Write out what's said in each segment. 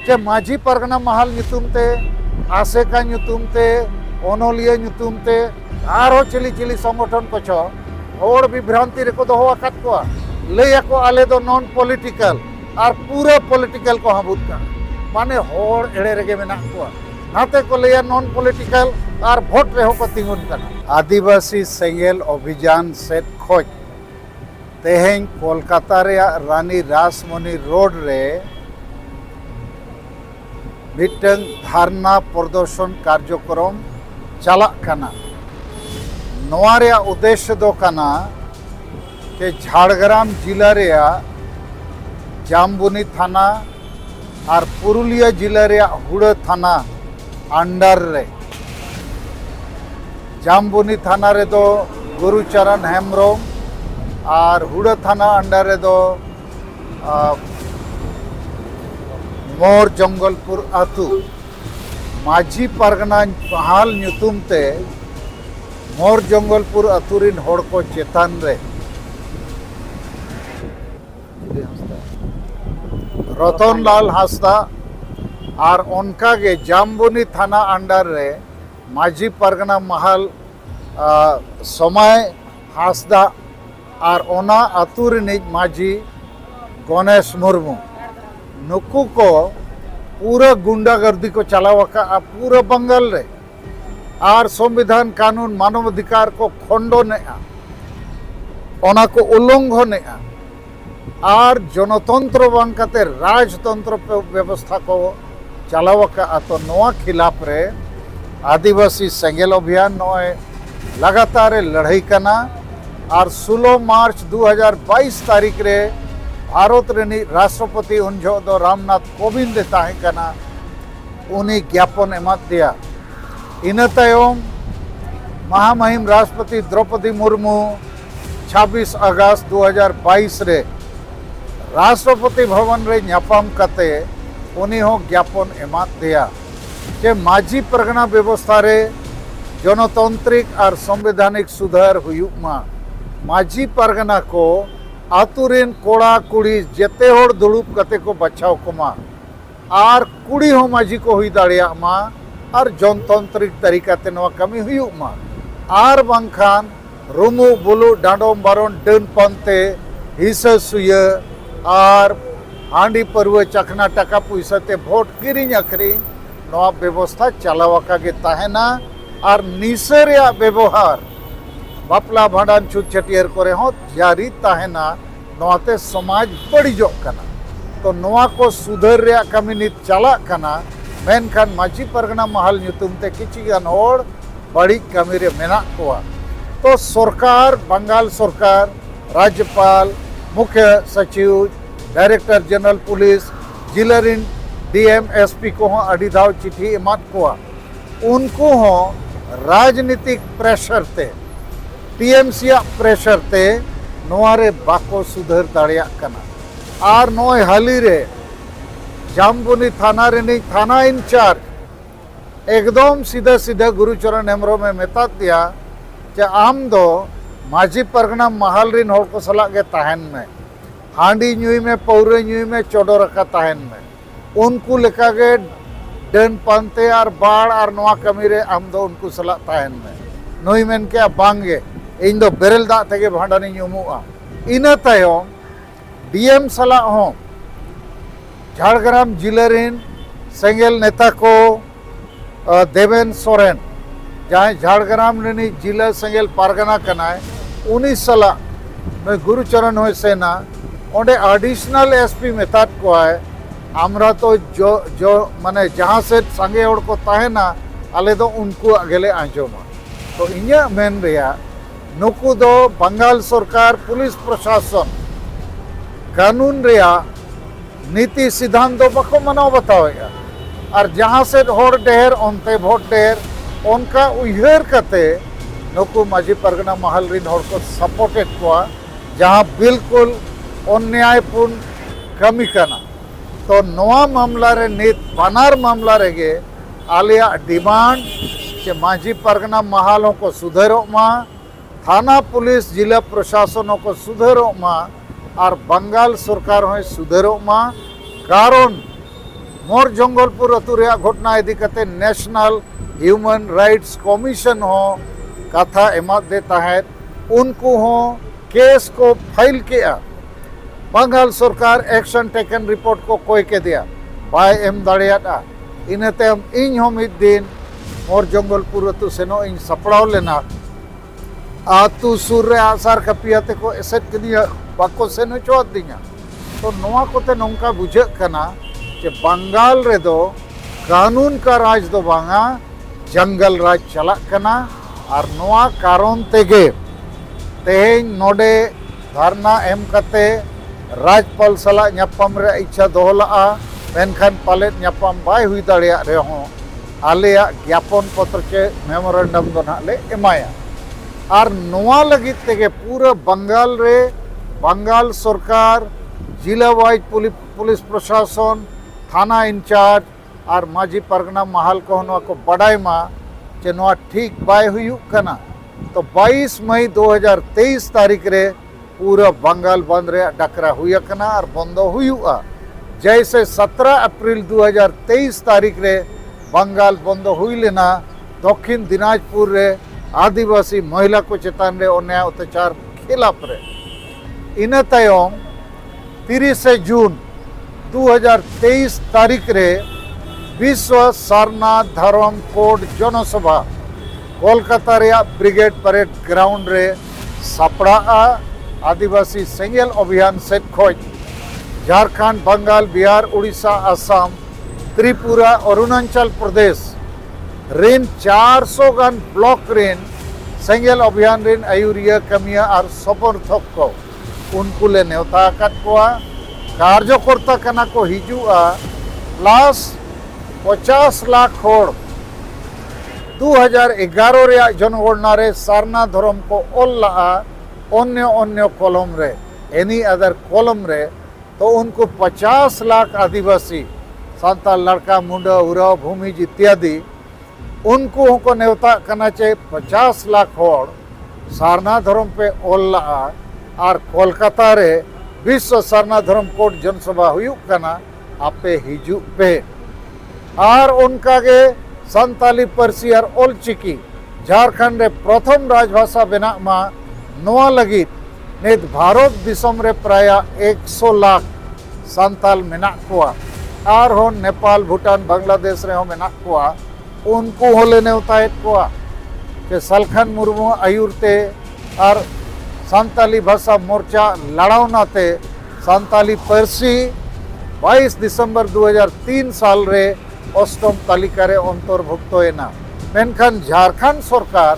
ᱡᱮ ᱢᱟᱹᱡᱷᱤ ᱯᱟᱨᱜᱟᱱᱟ ᱢᱟᱦᱟᱞ ᱧᱩᱛᱩᱢ ᱛᱮ ᱟᱥᱮᱠᱟ ᱧᱩᱛᱩᱢ ᱛᱮ ᱚᱱᱚᱞᱤᱭᱟᱹ ᱧᱩᱛᱩᱢ ᱛᱮ ᱟᱨᱦᱚᱸ ᱪᱤᱞᱤ ᱪᱤᱞᱤ ᱥᱚᱝᱜᱚᱴᱷᱚᱱ ᱠᱚᱪᱚ ᱦᱚᱲ ᱵᱤᱵᱷᱨᱟᱱᱛᱤ ᱨᱮᱠᱚ ᱫᱚᱦᱚ ᱟᱠᱟᱫ ᱠᱚᱣᱟ ᱞᱟᱹᱭ ᱟᱠᱚ ᱟᱞᱮ ᱫᱚ ᱱᱚᱱ ᱯᱚᱞᱤᱴᱤᱠᱟᱞ ᱟᱨ ᱯᱩᱨᱟᱹ ᱯᱚᱞᱤᱴᱤᱠᱟᱞ ᱠᱚ ᱦᱟᱹᱵᱩᱫ ᱠᱟᱜᱼᱟ ᱢᱟᱱᱮ ᱦᱚᱲ ᱮᱲᱮ ᱨᱮᱜᱮ ᱢᱮᱱᱟᱜ ᱠᱚᱣᱟ ᱱᱟᱛᱮ ᱠᱚ ᱞᱟᱹᱭᱟ ᱱᱚᱱ ᱯᱚᱞᱤᱴᱤᱠᱟᱞ ᱟᱨ ᱵᱷᱳᱴ ᱨᱮᱦᱚᱸ ᱠᱚ ᱛᱤᱸᱜᱩᱱ ᱠᱟᱱᱟ ᱟᱹᱫᱤᱵᱟᱹᱥᱤ ᱥᱮᱸᱜᱮᱞ ᱚᱵᱷᱤᱡᱟᱱ ᱥᱮᱫ ᱠᱷᱚᱡ ᱛᱮᱦᱮᱧ ᱠᱚᱞᱠᱟᱛᱟ ᱨᱮᱭᱟᱜ ᱨᱟᱱᱤ ᱨᱟᱥᱢᱚᱱᱤ ᱨᱳᱰ ᱨᱮ ᱢᱤᱫᱴᱟᱝ ᱫᱷᱟᱨᱱᱟ ᱯᱨᱚᱫᱚᱨᱥᱚᱱ ᱠᱟᱨᱡᱚᱠᱨᱚᱢ ᱪᱟᱞᱟᱜ ᱠᱟᱱᱟ ᱱᱚᱣᱟ ᱨᱮᱭᱟᱜ ᱩᱫᱮᱥᱥᱚ ᱫᱚ ᱠᱟᱱᱟ ᱡᱮ ᱡᱷᱟᱲᱜᱨᱟᱢ ᱡᱤᱞᱟ ᱨᱮᱭᱟᱜ ᱡᱟᱢᱵᱩᱱᱤ ᱛᱷᱟᱱᱟ ᱟᱨ ᱯᱩᱨᱩᱞᱤᱭᱟᱹ ᱡᱤᱞᱟ ᱨᱮᱭᱟᱜ ᱦᱩᱲᱟᱹ ᱛᱷᱟᱱᱟ ᱟᱱᱰᱟᱨ ᱨᱮ ᱡᱟᱢᱵᱚᱱᱤ ᱛᱷᱟᱱᱟ ᱨᱮᱫᱚ ᱜᱩᱨᱩᱪᱟᱨᱟᱱ ᱦᱮᱢᱵᱨᱚᱢ ᱟᱨ ᱦᱩᱲᱟᱹ ᱛᱷᱟᱱᱟ ᱟᱱᱰᱟᱨ ᱨᱮᱫᱚ ᱢᱚᱨ ᱡᱚᱝᱜᱚᱞᱯᱩᱨ ᱟᱹᱛᱩ ᱢᱟᱹᱡᱷᱤ ᱯᱟᱨᱜᱟᱱᱟ ᱵᱟᱦᱟᱞ ᱧᱩᱛᱩᱢ ᱛᱮ ᱢᱚᱨ ᱡᱚᱝᱜᱚᱞᱯᱩᱨ ᱟᱹᱛᱩ ᱨᱤᱱ ᱦᱚᱲ ᱠᱚ ᱪᱮᱛᱟᱱ ᱨᱮ ᱨᱚᱛᱚᱱ ᱞᱟᱞ ᱦᱟᱸᱥᱫᱟ ᱟᱨ ᱚᱱᱠᱟ ᱜᱮ ᱡᱟᱢᱵᱚᱱᱤ ᱛᱷᱟᱱᱟ ᱟᱱᱰᱟᱨ ᱨᱮ ᱢᱟᱹᱡᱷᱤ ᱯᱟᱨᱜᱟᱱᱟ ᱢᱟᱦᱟᱞ ᱥᱚᱢᱟᱭ ᱦᱟᱸᱥᱫᱟ ᱟᱨ ᱚᱱᱟ ᱟᱛᱳ ᱨᱤᱱᱤᱡ ᱢᱟᱹᱡᱷᱤ ᱜᱚᱱᱮᱥ ᱢᱩᱨᱢᱩ ᱱᱩᱠᱩ ᱠᱚ ᱯᱩᱨᱟᱹ ᱜᱩᱱᱰᱟᱜᱟᱨᱫᱤ ᱠᱚ ᱪᱟᱞᱟᱣ ᱟᱠᱟᱫᱼᱟ ᱯᱩᱨᱟᱹ ᱵᱟᱝᱜᱟᱞ ᱨᱮ ᱟᱨ ᱥᱚᱝᱵᱤᱫᱷᱟᱱ ᱠᱟᱹᱱᱩᱱ ᱢᱟᱱᱚᱵ ᱚᱫᱷᱤᱠᱟᱨ ᱠᱚ ᱠᱷᱚᱱᱰᱚᱱᱮᱜᱼᱟ ᱚᱱᱟ ᱠᱚ ᱩᱞᱞᱚᱝᱜᱷᱚᱱᱮᱜᱼᱟ ᱟᱨ ᱡᱚᱱᱚᱛᱚᱱᱛᱨᱚ ᱵᱟᱝ ᱠᱟᱛᱮ ᱨᱟᱡᱽᱛᱚᱱᱛᱨᱚ ᱵᱮᱵᱚᱥᱛᱷᱟ ᱠᱚ ᱪᱟᱞᱟᱣ ᱟᱠᱟᱫᱼᱟ ᱛᱚ ᱱᱚᱣᱟ ᱠᱷᱤᱞᱟᱯ ᱨᱮ ᱟᱹᱫᱤᱵᱟᱹᱥᱤ ᱥᱮᱸᱜᱮᱞ ᱚᱵᱷᱤᱭᱟᱱ ᱱᱚᱜᱼᱚᱭ ᱞᱟᱜᱟᱛᱟᱨ ᱮ ᱞᱟᱹᱲᱦᱟᱹᱭ ᱠᱟᱱᱟ ᱟᱨ ᱥᱳᱞᱳ ᱢᱟᱨᱪ ᱫᱩ ᱦᱟᱡᱟᱨ ᱵᱟᱭᱤᱥ ᱛᱟᱹᱨᱤᱠᱷ ᱨᱮ ᱵᱷᱟᱨᱚᱛ ᱨᱤᱱᱤᱡ ᱨᱟᱥᱴᱨᱚᱯᱚᱛᱤ ᱩᱱ ᱡᱚᱦᱚᱜ ᱫᱚ ᱨᱟᱢᱱᱟᱛᱷ ᱠᱚᱵᱤᱱ ᱫᱮ ᱛᱟᱦᱮᱸ ᱠᱟᱱᱟ ᱩᱱᱤ ᱜᱮᱯᱚᱱ ᱮᱢᱟᱫ ᱫᱮᱭᱟ ᱤᱱᱟᱹ ᱛᱟᱭᱚᱢ ᱢᱟᱦᱟᱢᱟᱦᱤᱢ ᱨᱟᱥᱴᱨᱚᱯᱚᱛᱤ ᱫᱨᱚᱯᱚᱫᱤ ᱢᱩᱨᱢᱩ ᱪᱷᱟᱵᱤᱥ ᱟᱜᱚᱥᱴ ᱫᱩ ᱦᱟᱡᱟᱨ ᱵᱟᱭᱤᱥ ᱨᱮ ᱨᱟᱥᱴᱨᱚᱯᱚᱛᱤ ᱵᱷᱚᱵᱚᱱ ᱨᱮ ᱧᱟᱯᱟᱢ ᱠᱟᱛᱮ ᱩᱱᱤ ᱦᱚᱸ ᱜᱮᱯᱚᱱ ᱮᱢᱟᱫ ᱫᱮᱭᱟ ᱡᱮ ᱢᱟᱹᱡᱷᱤ ᱯᱟᱨᱜᱟᱱᱟ ᱵᱮᱵᱚᱥᱛᱷᱟ ᱨᱮ ᱡᱚᱱᱚᱛᱟᱱᱛᱨᱤᱠ ᱟᱨ ᱥᱚᱝᱵᱤᱫᱷᱟᱱᱤᱠ ᱥᱩᱫᱷᱟᱹᱨ ᱦᱩᱭᱩᱜ ᱢᱟ ᱢᱟᱹᱡᱷᱤ ᱯᱟᱨᱜᱟᱱᱟ ᱠᱚ ᱟᱛᱳ ᱨᱮᱱ ᱠᱚᱲᱟ ᱠᱩᱲᱤ ᱡᱮᱛᱮ ᱦᱚᱲ ᱫᱩᱲᱩᱵ ᱠᱟᱛᱮ ᱠᱚ ᱵᱟᱪᱷᱟᱣ ᱠᱚᱢᱟ ᱟᱨ ᱠᱩᱲᱤ ᱦᱚᱸ ᱢᱟᱹᱡᱷᱤ ᱠᱚ ᱦᱩᱭ ᱫᱟᱲᱮᱭᱟᱜ ᱢᱟ ᱟᱨ ᱡᱚᱱᱛᱚᱱᱛᱨᱤᱠ ᱛᱟᱹᱨᱤᱠᱟ ᱛᱮ ᱱᱚᱣᱟ ᱠᱟᱹᱢᱤ ᱦᱩᱭᱩᱜ ᱢᱟ ᱟᱨ ᱵᱟᱝᱠᱷᱟᱱ ᱨᱩᱢᱩᱜ ᱵᱩᱞᱩᱜ ᱰᱟᱸᱰᱚᱢ ᱵᱟᱨᱚᱱ ᱰᱟᱹᱱ ᱯᱟᱱᱛᱮ ᱦᱤᱥᱟᱹ ᱥᱩᱭᱟᱹ ᱟᱨ ᱦᱟᱺᱰᱤ ᱯᱟᱹᱨᱣᱟᱹ ᱪᱟᱠᱷᱱᱟ ᱴᱟᱠᱟ ᱯᱩᱭᱥᱟᱹ ᱛᱮ ᱵᱷᱳᱴ ᱠᱤᱨᱤᱧ ᱟᱹᱠᱷᱨᱤᱧ ᱱᱚᱣᱟ ᱵᱮᱵᱚᱥᱛᱷᱟ ᱪᱟᱞᱟᱣ ᱟᱠᱟ ᱜᱮ ᱛᱟᱦᱮᱱᱟ ᱟᱨ ᱱᱤᱥᱟᱹ ᱨᱮᱭᱟᱜ ᱵᱮᱵᱚᱦᱟᱨ ᱵᱟᱯᱞᱟ ᱵᱷᱟᱸᱰᱟᱱ ᱪᱷᱩᱛ ᱪᱷᱟᱹᱴᱭᱟᱹᱨ ᱠᱚᱨᱮ ᱦᱚᱸ ᱡᱟᱦᱟᱸ ᱨᱤᱛ ᱛᱟᱦᱮᱱᱟ ᱱᱚᱣᱟᱛᱮ ᱥᱚᱢᱟᱡᱽ ᱵᱟᱹᱲᱤᱡᱚᱜ ᱠᱟᱱᱟ ᱛᱚ ᱱᱚᱣᱟ ᱠᱚ ᱥᱩᱫᱷᱟᱹᱨ ᱨᱮᱭᱟᱜ ᱠᱟᱹᱢᱤ ᱱᱤᱛ ᱪᱟᱞᱟᱜ ᱠᱟᱱᱟ ᱢᱮᱱᱠᱷᱟᱱ ᱢᱟᱹᱡᱷᱤ ᱯᱟᱨᱜᱟᱱᱟ ᱢᱟᱦᱟᱞ ᱧᱩᱛᱩᱢ ᱛᱮ ᱠᱤᱪᱷᱩ ᱜᱟᱱ ᱦᱚᱲ ᱵᱟᱹᱲᱤᱡ ᱠᱟᱹᱢᱤ ᱨᱮ ᱢᱮᱱᱟᱜ ᱠᱚᱣᱟ ᱛᱚ ᱥᱚᱨᱠᱟᱨ ᱵᱟᱝᱜᱟᱞ ᱥᱚᱨᱠᱟᱨ ᱨᱟᱡᱽᱡᱚᱯᱟᱞ ᱢᱩᱠᱷᱭᱟᱹ ᱥᱚᱪᱤᱵᱽ ᱰᱟᱭᱨᱮᱠᱴᱚᱨ ᱡᱮᱱᱟᱨᱮᱞ ᱯᱩᱞᱤᱥ ᱡᱤᱞᱟᱹ ᱨᱤᱱ ᱰᱤ ᱮᱢ ᱮᱥ ᱯᱤ ᱠᱚᱦᱚᱸ ᱟᱹᱰᱤ ᱫᱷᱟᱣ ᱪᱤᱴᱷᱤ ᱮᱢᱟᱫ ᱠᱚᱣᱟ ᱩᱱᱠᱩ ᱦᱚᱸ ᱨᱟᱡᱽᱱᱤᱛᱤᱠ ᱯᱨᱮᱥᱟᱨ ᱛᱮ ᱯᱤᱮᱢᱥᱤ ᱟᱜ ᱯᱨᱮᱥᱟᱨ ᱛᱮ ᱱᱚᱣᱟ ᱨᱮ ᱵᱟᱠᱚ ᱥᱩᱫᱷᱟᱹᱨ ᱫᱟᱲᱮᱭᱟᱜ ᱠᱟᱱᱟ ᱟᱨ ᱱᱚᱜᱼᱚᱭ ᱦᱟᱹᱞᱤ ᱨᱮ ᱡᱟᱢᱵᱚᱱᱤ ᱛᱷᱟᱱᱟ ᱨᱤᱱᱤᱡ ᱛᱷᱟᱱᱟ ᱤᱱᱪᱟᱨᱡᱽ ᱮᱠᱫᱚᱢ ᱥᱤᱫᱷᱟᱹ ᱥᱤᱫᱷᱟᱹ ᱜᱩᱨᱩᱪᱚᱨᱚᱱ ᱦᱮᱢᱵᱨᱚᱢ ᱮ ᱢᱮᱛᱟ ᱫᱮᱭᱟ ᱡᱮ ᱟᱢ ᱫᱚ ᱢᱟᱹᱡᱷᱤ ᱯᱟᱨᱜᱟᱱᱟ ᱢᱟᱦᱟᱞ ᱨᱤᱱ ᱦᱚᱲ ᱠᱚ ᱥᱟᱞᱟᱜ ᱜᱮ ᱛᱟᱦᱮᱱ ᱢᱮ ᱦᱟᱺᱰᱤ ᱧᱩᱭ ᱢᱮ ᱯᱟᱹᱣᱨᱟᱹ ᱧᱩᱭ ᱢᱮ ᱪᱚᱰᱚᱨ ᱟᱠᱟ ᱛᱟᱦᱮᱱ ᱢᱮ ᱩᱱᱠᱩ ᱞᱮᱠᱟᱜᱮ ᱰᱟᱹᱱ ᱯᱟᱱᱛᱮ ᱟᱨ ᱵᱟᱲ ᱟᱨ ᱱᱚᱣᱟ ᱠᱟᱹᱢᱤ ᱨᱮ ᱟᱢ ᱫᱚ ᱩᱱᱠᱩ ᱥᱟᱞᱟᱜ ᱛᱟᱦᱮᱱ ᱢᱮ ᱱᱩᱭ ᱢᱮᱱ ᱠᱮᱜᱼᱟ ᱵᱟᱝᱜᱮ ᱤᱧ ᱫᱚ ᱵᱮᱨᱮᱞ ᱫᱟᱜ ᱛᱮᱜᱮ ᱵᱷᱟᱸᱰᱟᱱᱤᱧ ᱩᱢᱩᱜᱼᱟ ᱤᱱᱟᱹ ᱛᱟᱭᱚᱢ ᱰᱤᱮᱢ ᱥᱟᱞᱟᱜ ᱦᱚᱸ ᱡᱷᱟᱲᱜᱨᱟᱢ ᱡᱤᱞᱟᱹ ᱨᱮᱱ ᱥᱮᱸᱜᱮᱞ ᱱᱮᱛᱟ ᱠᱚ ᱫᱮᱵᱮᱱ ᱥᱚᱨᱮᱱ ᱡᱟᱦᱟᱸᱭ ᱡᱷᱟᱲᱜᱨᱟᱢ ᱨᱤᱱᱤᱡ ᱡᱤᱞᱟᱹ ᱥᱮᱸᱜᱮᱞ ᱯᱟᱨᱜᱟᱱᱟ ᱠᱟᱱᱟᱭ ᱩᱱᱤ ᱥᱟᱞᱟᱜ ᱱᱩᱭ ᱜᱩᱨᱩᱪᱚᱨᱚᱱ ᱦᱚᱸᱭ ᱥᱮᱱᱟ ᱚᱸᱰᱮ ᱟᱰᱤᱥᱚᱱᱟᱞ ᱮᱥ ᱯᱤ ᱢᱮᱛᱟᱫ ᱠᱚᱣᱟᱭ ᱟᱢᱨᱟ ᱛᱚ ᱡᱚ ᱡᱚ ᱢᱟᱱᱮ ᱡᱟᱦᱟᱸ ᱥᱮᱫ ᱥᱟᱸᱜᱮ ᱦᱚᱲ ᱠᱚ ᱛᱟᱦᱮᱱᱟ ᱟᱞᱮ ᱫᱚ ᱩᱱᱠᱩᱣᱟᱜ ᱜᱮᱞᱮ ᱟᱸᱡᱚᱢᱟ ᱛᱚ ᱤᱧᱟᱹᱜ ᱢᱮᱱ ᱨᱮᱭᱟᱜ ᱱᱩᱠᱩ ᱫᱚ ᱵᱟᱝᱜᱟᱞ ᱥᱚᱨᱠᱟᱨ ᱯᱩᱞᱤᱥ ᱯᱨᱚᱥᱟᱥᱚᱱ ᱠᱟᱹᱱᱩᱱ ᱨᱮᱭᱟᱜ ᱱᱤᱛᱤ ᱥᱤᱫᱷᱟᱱᱛ ᱫᱚ ᱵᱟᱠᱚ ᱢᱟᱱᱟᱣ ᱵᱟᱛᱟᱣᱮᱫᱼᱟ ᱟᱨ ᱡᱟᱦᱟᱸ ᱥᱮᱫ ᱦᱚᱲ ᱰᱷᱮᱨ ᱚᱱᱛᱮ ᱵᱷᱳᱴ ᱰᱷᱮᱨ ᱚᱱᱠᱟ ᱩᱭᱦᱟᱹᱨ ᱠᱟᱛᱮ ᱱᱩᱠᱩ ᱢᱟᱹᱡᱷᱤ ᱯᱟᱨᱜᱟᱱᱟ ᱢᱟᱦᱟᱞ ᱨᱤᱱ ᱦᱚᱲ ᱠᱚ ᱥᱟᱯᱳᱨᱴᱮᱰ ᱠᱚᱣᱟ ᱡᱟᱦᱟᱸ ᱵᱤᱞᱠᱩᱞ ᱚᱱᱱᱭᱟᱭᱯᱩᱨᱱ ᱠᱟᱹᱢᱤ ᱠᱟᱱᱟ ᱛᱚ ᱱᱚᱣᱟ ᱢᱟᱢᱞᱟ ᱨᱮ ᱱᱤᱛ ᱵᱟᱱᱟᱨ ᱢᱟᱢᱞᱟ ᱨᱮᱜᱮ ᱟᱞᱮᱭᱟᱜ ᱰᱤᱢᱟᱱᱰ ᱥᱮ ᱢᱟᱹᱡᱷᱤ ᱯᱟᱨᱜᱟᱱᱟ ᱢᱟᱦᱟᱞ ᱦᱚᱸᱠᱚ ᱥᱩᱫᱷᱟᱹᱨᱚᱜ ᱢᱟ ᱛᱷᱟᱱᱟ ᱯᱩᱞᱤᱥ ᱡᱤᱞᱟ ᱯᱨᱚᱥᱟᱥᱚᱱ ᱦᱚᱸᱠᱚ ᱥᱩᱫᱷᱟᱹᱨᱚᱜ ᱢᱟ ᱟᱨ ᱵᱟᱝᱜᱟᱞ ᱥᱚᱨᱠᱟᱨ ᱦᱚᱸᱭ ᱥᱩᱫᱷᱟᱹᱨᱚᱜ ᱢᱟ ᱠᱟᱨᱚᱱ ᱢᱚᱨ ᱡᱚᱝᱜᱚᱞᱯᱩᱨ ᱟᱹᱛᱩ ᱨᱮᱭᱟᱜ ᱜᱷᱚᱴᱱᱟ ᱤᱫᱤ ᱠᱟᱛᱮ ᱱᱮᱥᱱᱟᱞ ᱦᱤᱭᱩᱢᱟᱱ ᱨᱟᱭᱤᱴᱥ ᱠᱚᱢᱤᱥᱚᱱ ᱦᱚᱸ ᱠᱟᱛᱷᱟ ᱮᱢᱟᱫ ᱫᱮ ᱛᱟᱦᱮᱸᱫ ᱩᱱᱠᱩ ᱦᱚᱸ ᱠᱮᱥ ᱠᱚ ᱯᱷᱟᱭᱤᱞ ᱠᱮᱫᱼᱟ ᱵᱟᱝᱜᱟᱞ ᱥᱚᱨᱠᱟᱨ ᱮᱠᱥᱚᱱ ᱴᱮᱠᱮᱱ ᱨᱤᱯᱳᱨᱴ ᱠᱚ ᱠᱚᱭ ᱠᱮᱫᱮᱭᱟ ᱵᱟᱭ ᱮᱢ ᱫᱟᱲᱮᱭᱟᱫᱼᱟ ᱤᱱᱟᱹ ᱛᱟᱭᱚᱢ ᱤᱧ ᱦᱚᱸ ᱢᱤᱫ ᱫᱤᱱ ᱢᱚᱨ ᱡᱚᱝᱜᱚᱞᱯᱩᱨ ᱟᱹᱛᱩ ᱥᱮᱱᱚᱜ ᱤᱧ ᱥᱟᱯᱲᱟᱣ ᱞᱮᱱᱟ ᱟᱹᱛᱩ ᱥᱩᱨ ᱨᱮ ᱟᱜᱼᱥᱟᱨ ᱠᱟᱹᱯᱤ ᱟᱛᱮ ᱠᱚ ᱮᱥᱮᱫ ᱠᱤᱫᱤᱧᱟ ᱵᱟᱠᱚ ᱥᱮᱱ ᱦᱚᱪᱚ ᱟᱹᱫᱤᱧᱟ ᱛᱚ ᱱᱚᱣᱟ ᱠᱚᱛᱮ ᱱᱚᱝᱠᱟ ᱵᱩᱡᱷᱟᱹᱜ ᱠᱟᱱᱟ ᱡᱮ ᱵᱟᱝᱜᱟᱞ ᱨᱮᱫᱚ ᱠᱟᱹᱱᱩᱱ ᱠᱟ ᱨᱟᱡᱽ ᱫᱚ ᱵᱟᱝᱟ ᱡᱟᱝᱜᱟᱞ ᱨᱟᱡᱽ ᱪᱟᱞᱟᱜ ᱠᱟᱱᱟ ᱟᱨ ᱱᱚᱣᱟ ᱠᱟᱨᱚᱱ ᱛᱮᱜᱮ ᱛᱮᱦᱮᱧ ᱱᱚᱰᱮ ᱫᱷᱟᱨᱱᱟ ᱮᱢ ᱠᱟᱛᱮ ᱨᱟᱡᱽᱯᱟᱞ ᱥᱟᱞᱟᱜ ᱧᱟᱯᱟᱢ ᱨᱮᱭᱟᱜ ᱤᱪᱪᱷᱟ ᱫᱚᱦᱚ ᱞᱟᱜᱼᱟ ᱢᱮᱱᱠᱷᱟᱱ ᱯᱟᱞᱮᱫ ᱧᱟᱯᱟᱢ ᱵᱟᱭ ᱦᱩᱭ ᱫᱟᱲᱮᱭᱟᱜ ᱨᱮᱦᱚᱸ ᱟᱞᱮᱭᱟᱜ ᱜᱮᱭᱟᱯᱚᱱ ᱯᱚᱛᱨᱚ ᱪᱮ ᱢᱮᱢᱳᱨᱮᱱᱰᱟᱢ ᱫᱚ ᱱᱟᱦᱟᱜ ᱞᱮ ᱮᱢᱟᱭᱟ ᱟᱨ ᱱᱚᱣᱟ ᱞᱟᱹᱜᱤᱫ ᱛᱮᱜᱮ ᱯᱩᱨᱟᱹ ᱵᱟᱝᱜᱟᱞ ᱨᱮ ᱵᱟᱝᱜᱟᱞ ᱥᱚᱨᱠᱟᱨ ᱡᱤᱞᱟᱹ ᱣᱟᱭᱤᱡ ᱯᱩᱞᱤᱥ ᱯᱨᱚᱥᱟᱥᱚᱱ ᱛᱷᱟᱱᱟ ᱤᱱᱪᱟᱨᱡᱽ ᱟᱨ ᱢᱟᱹᱡᱷᱤ ᱯᱟᱨᱜᱟᱱᱟ ᱢᱟᱦᱟᱞ ᱠᱚᱦᱚᱸ ᱱᱚᱣᱟ ᱠᱚ ᱵᱟᱰᱟᱭ ᱢᱟ ᱡᱮ ᱱᱚᱣᱟ ᱴᱷᱤᱠ ᱵᱟᱭ ᱦᱩᱭᱩᱜ ᱠᱟᱱᱟ ᱛᱚ ᱵᱟᱭᱤᱥ ᱢᱟᱹᱭ ᱫᱩ ᱦᱟᱡᱟᱨ ᱛᱮᱭᱤᱥ ᱛᱟᱹᱨᱤᱠᱷ ᱨᱮ ᱯᱩᱨᱟᱹ ᱵᱟᱝᱜᱟᱞ ᱵᱟᱸᱫᱽ ᱨᱮᱭᱟᱜ ᱰᱟᱠᱨᱟ ᱦᱩᱭ ᱟᱠᱟᱱᱟ ᱟᱨ ᱵᱚᱱᱫᱚ ᱦᱩᱭᱩᱜᱼᱟ ᱡᱮᱭᱥᱮ ᱥᱚᱛᱨᱟ ᱮᱯᱨᱤᱞ ᱫᱩ ᱦᱟᱡᱟᱨ ᱛᱮᱭᱤᱥ ᱛᱟᱹᱨᱤᱠᱷ ᱨᱮ ᱵᱟᱝᱜᱟᱞ ᱵᱚᱱᱫᱚ ᱦᱩᱭ ᱞᱮᱱᱟ ᱫᱚᱠᱷᱤᱱ ᱫᱤᱱᱟᱡᱽᱯᱩᱨ ᱨᱮ ᱟᱹᱫᱤᱵᱟᱹᱥᱤ ᱢᱚᱦᱤᱞᱟ ᱠᱚ ᱪᱮᱛᱟᱱ ᱨᱮ ᱚᱱᱱᱭᱟᱭ ᱚᱛᱛᱟᱪᱟᱨ ᱠᱷᱤᱞᱟᱯ ᱨᱮ ᱤᱱᱟᱹ ᱛᱟᱭᱚᱢ ᱛᱤᱨᱤᱥᱮ ᱡᱩᱱ ᱫᱩ ᱦᱟᱡᱟᱨ ᱛᱮᱭᱤᱥ ᱛᱟᱹᱨᱤᱠᱷ ᱨᱮ ᱵᱤᱥᱥᱚ ᱥᱟᱨᱱᱟᱛᱷ ᱫᱷᱚᱨᱚᱢ ᱠᱳᱰ ᱡᱚᱱᱚᱥᱚᱵᱷᱟ ᱠᱳᱞᱠᱟᱛᱟ ᱨᱮᱭᱟᱜ ᱵᱨᱤᱜᱮᱰ ᱯᱟᱨᱮᱰ ᱜᱨᱟᱣᱩᱱᱰ ᱨᱮ ᱥᱟᱯᱲᱟᱜᱼᱟ ᱟᱹᱫᱤᱵᱟᱹᱥᱤ ᱥᱮᱸᱜᱮᱞ ᱚᱵᱷᱤᱭᱟᱱ ᱥᱮᱫ ᱠᱷᱚᱱ ᱡᱷᱟᱲᱠᱷᱚᱸᱰ ᱵᱟᱝᱜᱟᱞ ᱵᱤᱦᱟᱨ ᱳᱰᱤᱥᱟ ᱟᱥᱟᱢ ᱛᱨᱤᱯᱩᱨᱟ ᱚᱨᱩᱱᱟᱪᱚᱞ ᱯᱨᱚᱫᱮᱥ ᱨᱤᱱ ᱪᱟᱨᱥᱚ ᱜᱟᱱ ᱵᱞᱚᱠ ᱨᱤᱱ ᱥᱮᱸᱜᱮᱞ ᱚᱵᱷᱤᱭᱟᱱ ᱨᱤᱱ ᱟᱹᱭᱩᱨᱤᱭᱟᱹ ᱠᱟᱹᱢᱤᱭᱟᱹ ᱟᱨ ᱥᱚᱢᱚᱨᱛᱷᱚᱠ ᱠᱚ ᱩᱱᱠᱩ ᱞᱮ ᱱᱮᱣᱛᱟ ᱟᱠᱟᱫ ᱠᱚᱣᱟ ᱠᱟᱨᱡᱚᱠᱚᱨᱛᱟ ᱠᱟᱱᱟ ᱠᱚ ᱦᱤᱡᱩᱜᱼᱟ ᱯᱞᱟᱥ ᱯᱚᱪᱟᱥ ᱞᱟᱠᱷ ᱦᱚᱲ ᱫᱩ ᱦᱟᱡᱟᱨ ᱮᱜᱟᱨᱚ ᱨᱮᱭᱟᱜ ᱡᱚᱱᱜᱚᱬᱱᱟ ᱨᱮ ᱥᱟᱨᱱᱟ ᱫᱷᱚᱨᱚᱢ ᱠᱚ ᱚᱞ ᱞᱟᱜᱼᱟ ᱚᱱᱭᱚ ᱚᱱᱭᱚ ᱠᱚᱞᱚᱢ ᱨᱮ ᱮᱱᱤ ᱟᱫᱟᱨ ᱠᱚᱞᱚᱢ ᱨᱮ ᱛᱚ ᱩᱱᱠᱩ ᱯᱚᱪᱟᱥ ᱞᱟᱠᱷ ᱟᱹᱫᱤᱵᱟᱹᱥᱤ ᱥᱟᱱᱛᱟᱲ ᱞᱟᱲᱠᱟ ᱢᱩᱰᱟᱹ ᱩᱨᱟᱣ ᱵᱷᱩᱢᱤᱡᱽ ᱤᱛᱭᱟᱫᱤ ᱩᱱᱠᱩ ᱦᱚᱸᱠᱚ ᱱᱮᱣᱛᱟᱜ ᱠᱟᱱᱟ ᱪᱮ ᱯᱚᱪᱟᱥ ᱞᱟᱠᱷ ᱦᱚᱲ ᱥᱟᱨᱱᱟ ᱫᱷᱚᱨᱚᱢ ᱯᱮ ᱚᱞ ᱞᱟᱜᱼᱟ ᱟᱨ ᱠᱚᱞᱠᱟᱛᱟ ᱨᱮ ᱵᱤᱥᱥᱚ ᱥᱟᱨᱱᱟ ᱫᱷᱚᱨᱚᱢ ᱠᱳᱰ ᱡᱚᱱᱥᱚᱵᱷᱟ ᱦᱩᱭᱩᱜ ᱠᱟᱱᱟ ᱟᱯᱮ ᱦᱤᱡᱩᱜ ᱯᱮ ᱟᱨ ᱚᱱᱠᱟᱜᱮ ᱥᱟᱱᱛᱟᱞᱤ ᱯᱟᱹᱨᱥᱤ ᱟᱨ ᱚᱞᱪᱤᱠᱤ ᱡᱷᱟᱲᱠᱷᱚᱸᱰ ᱨᱮ ᱯᱨᱚᱛᱷᱚᱢ ᱨᱟᱡᱽᱵᱷᱟᱥᱟ ᱵᱮᱱᱟᱜ ᱢᱟ ᱱᱚᱣᱟ ᱞᱟᱹᱜᱤᱫ ᱱᱤᱛ ᱵᱷᱟᱨᱚᱛ ᱫᱤᱥᱚᱢ ᱨᱮ ᱯᱨᱟᱭ ᱮᱠᱥᱚ ᱞᱟᱠᱷ ᱥᱟᱱᱛᱟᱞ ᱢᱮᱱᱟᱜ ᱠᱚᱣᱟ ᱟᱨᱦᱚᱸ ᱱᱮᱯᱟᱞ ᱵᱷᱩᱴᱟᱱ ᱵᱟᱝᱞᱟᱫᱮᱥ ᱨᱮᱦᱚᱸ ᱢᱮᱱᱟᱜ ᱠᱚᱣᱟ ᱩᱱᱠᱩ ᱦᱚᱸᱞᱮ ᱱᱮᱣᱛᱟᱭᱮᱫ ᱠᱚᱣᱟ ᱡᱮ ᱥᱟᱞᱠᱷᱟᱱ ᱢᱩᱨᱢᱩ ᱟᱹᱭᱩᱨ ᱛᱮ ᱟᱨ ᱥᱟᱱᱛᱟᱞᱤ ᱵᱷᱟᱥᱟ ᱢᱳᱨᱪᱟ ᱞᱟᱲᱟᱣᱱᱟ ᱛᱮ ᱥᱟᱱᱛᱟᱞᱤ ᱯᱟᱹᱨᱥᱤ ᱵᱟᱭᱤᱥ ᱫᱤᱥᱚᱢᱵᱚᱨ ᱫᱩ ᱦᱟᱡᱟᱨ ᱛᱤᱱ ᱥᱟᱞ ᱨᱮ ᱚᱥᱴᱚᱢ ᱛᱟᱹᱞᱤᱠᱟ ᱨᱮ ᱚᱱᱛᱚᱨᱵᱷᱩᱠᱛᱚᱭᱮᱱᱟ ᱢᱮᱱᱠᱷᱟᱱ ᱡᱷᱟᱨᱠᱷᱚᱸᱰ ᱥᱚᱨᱠᱟᱨ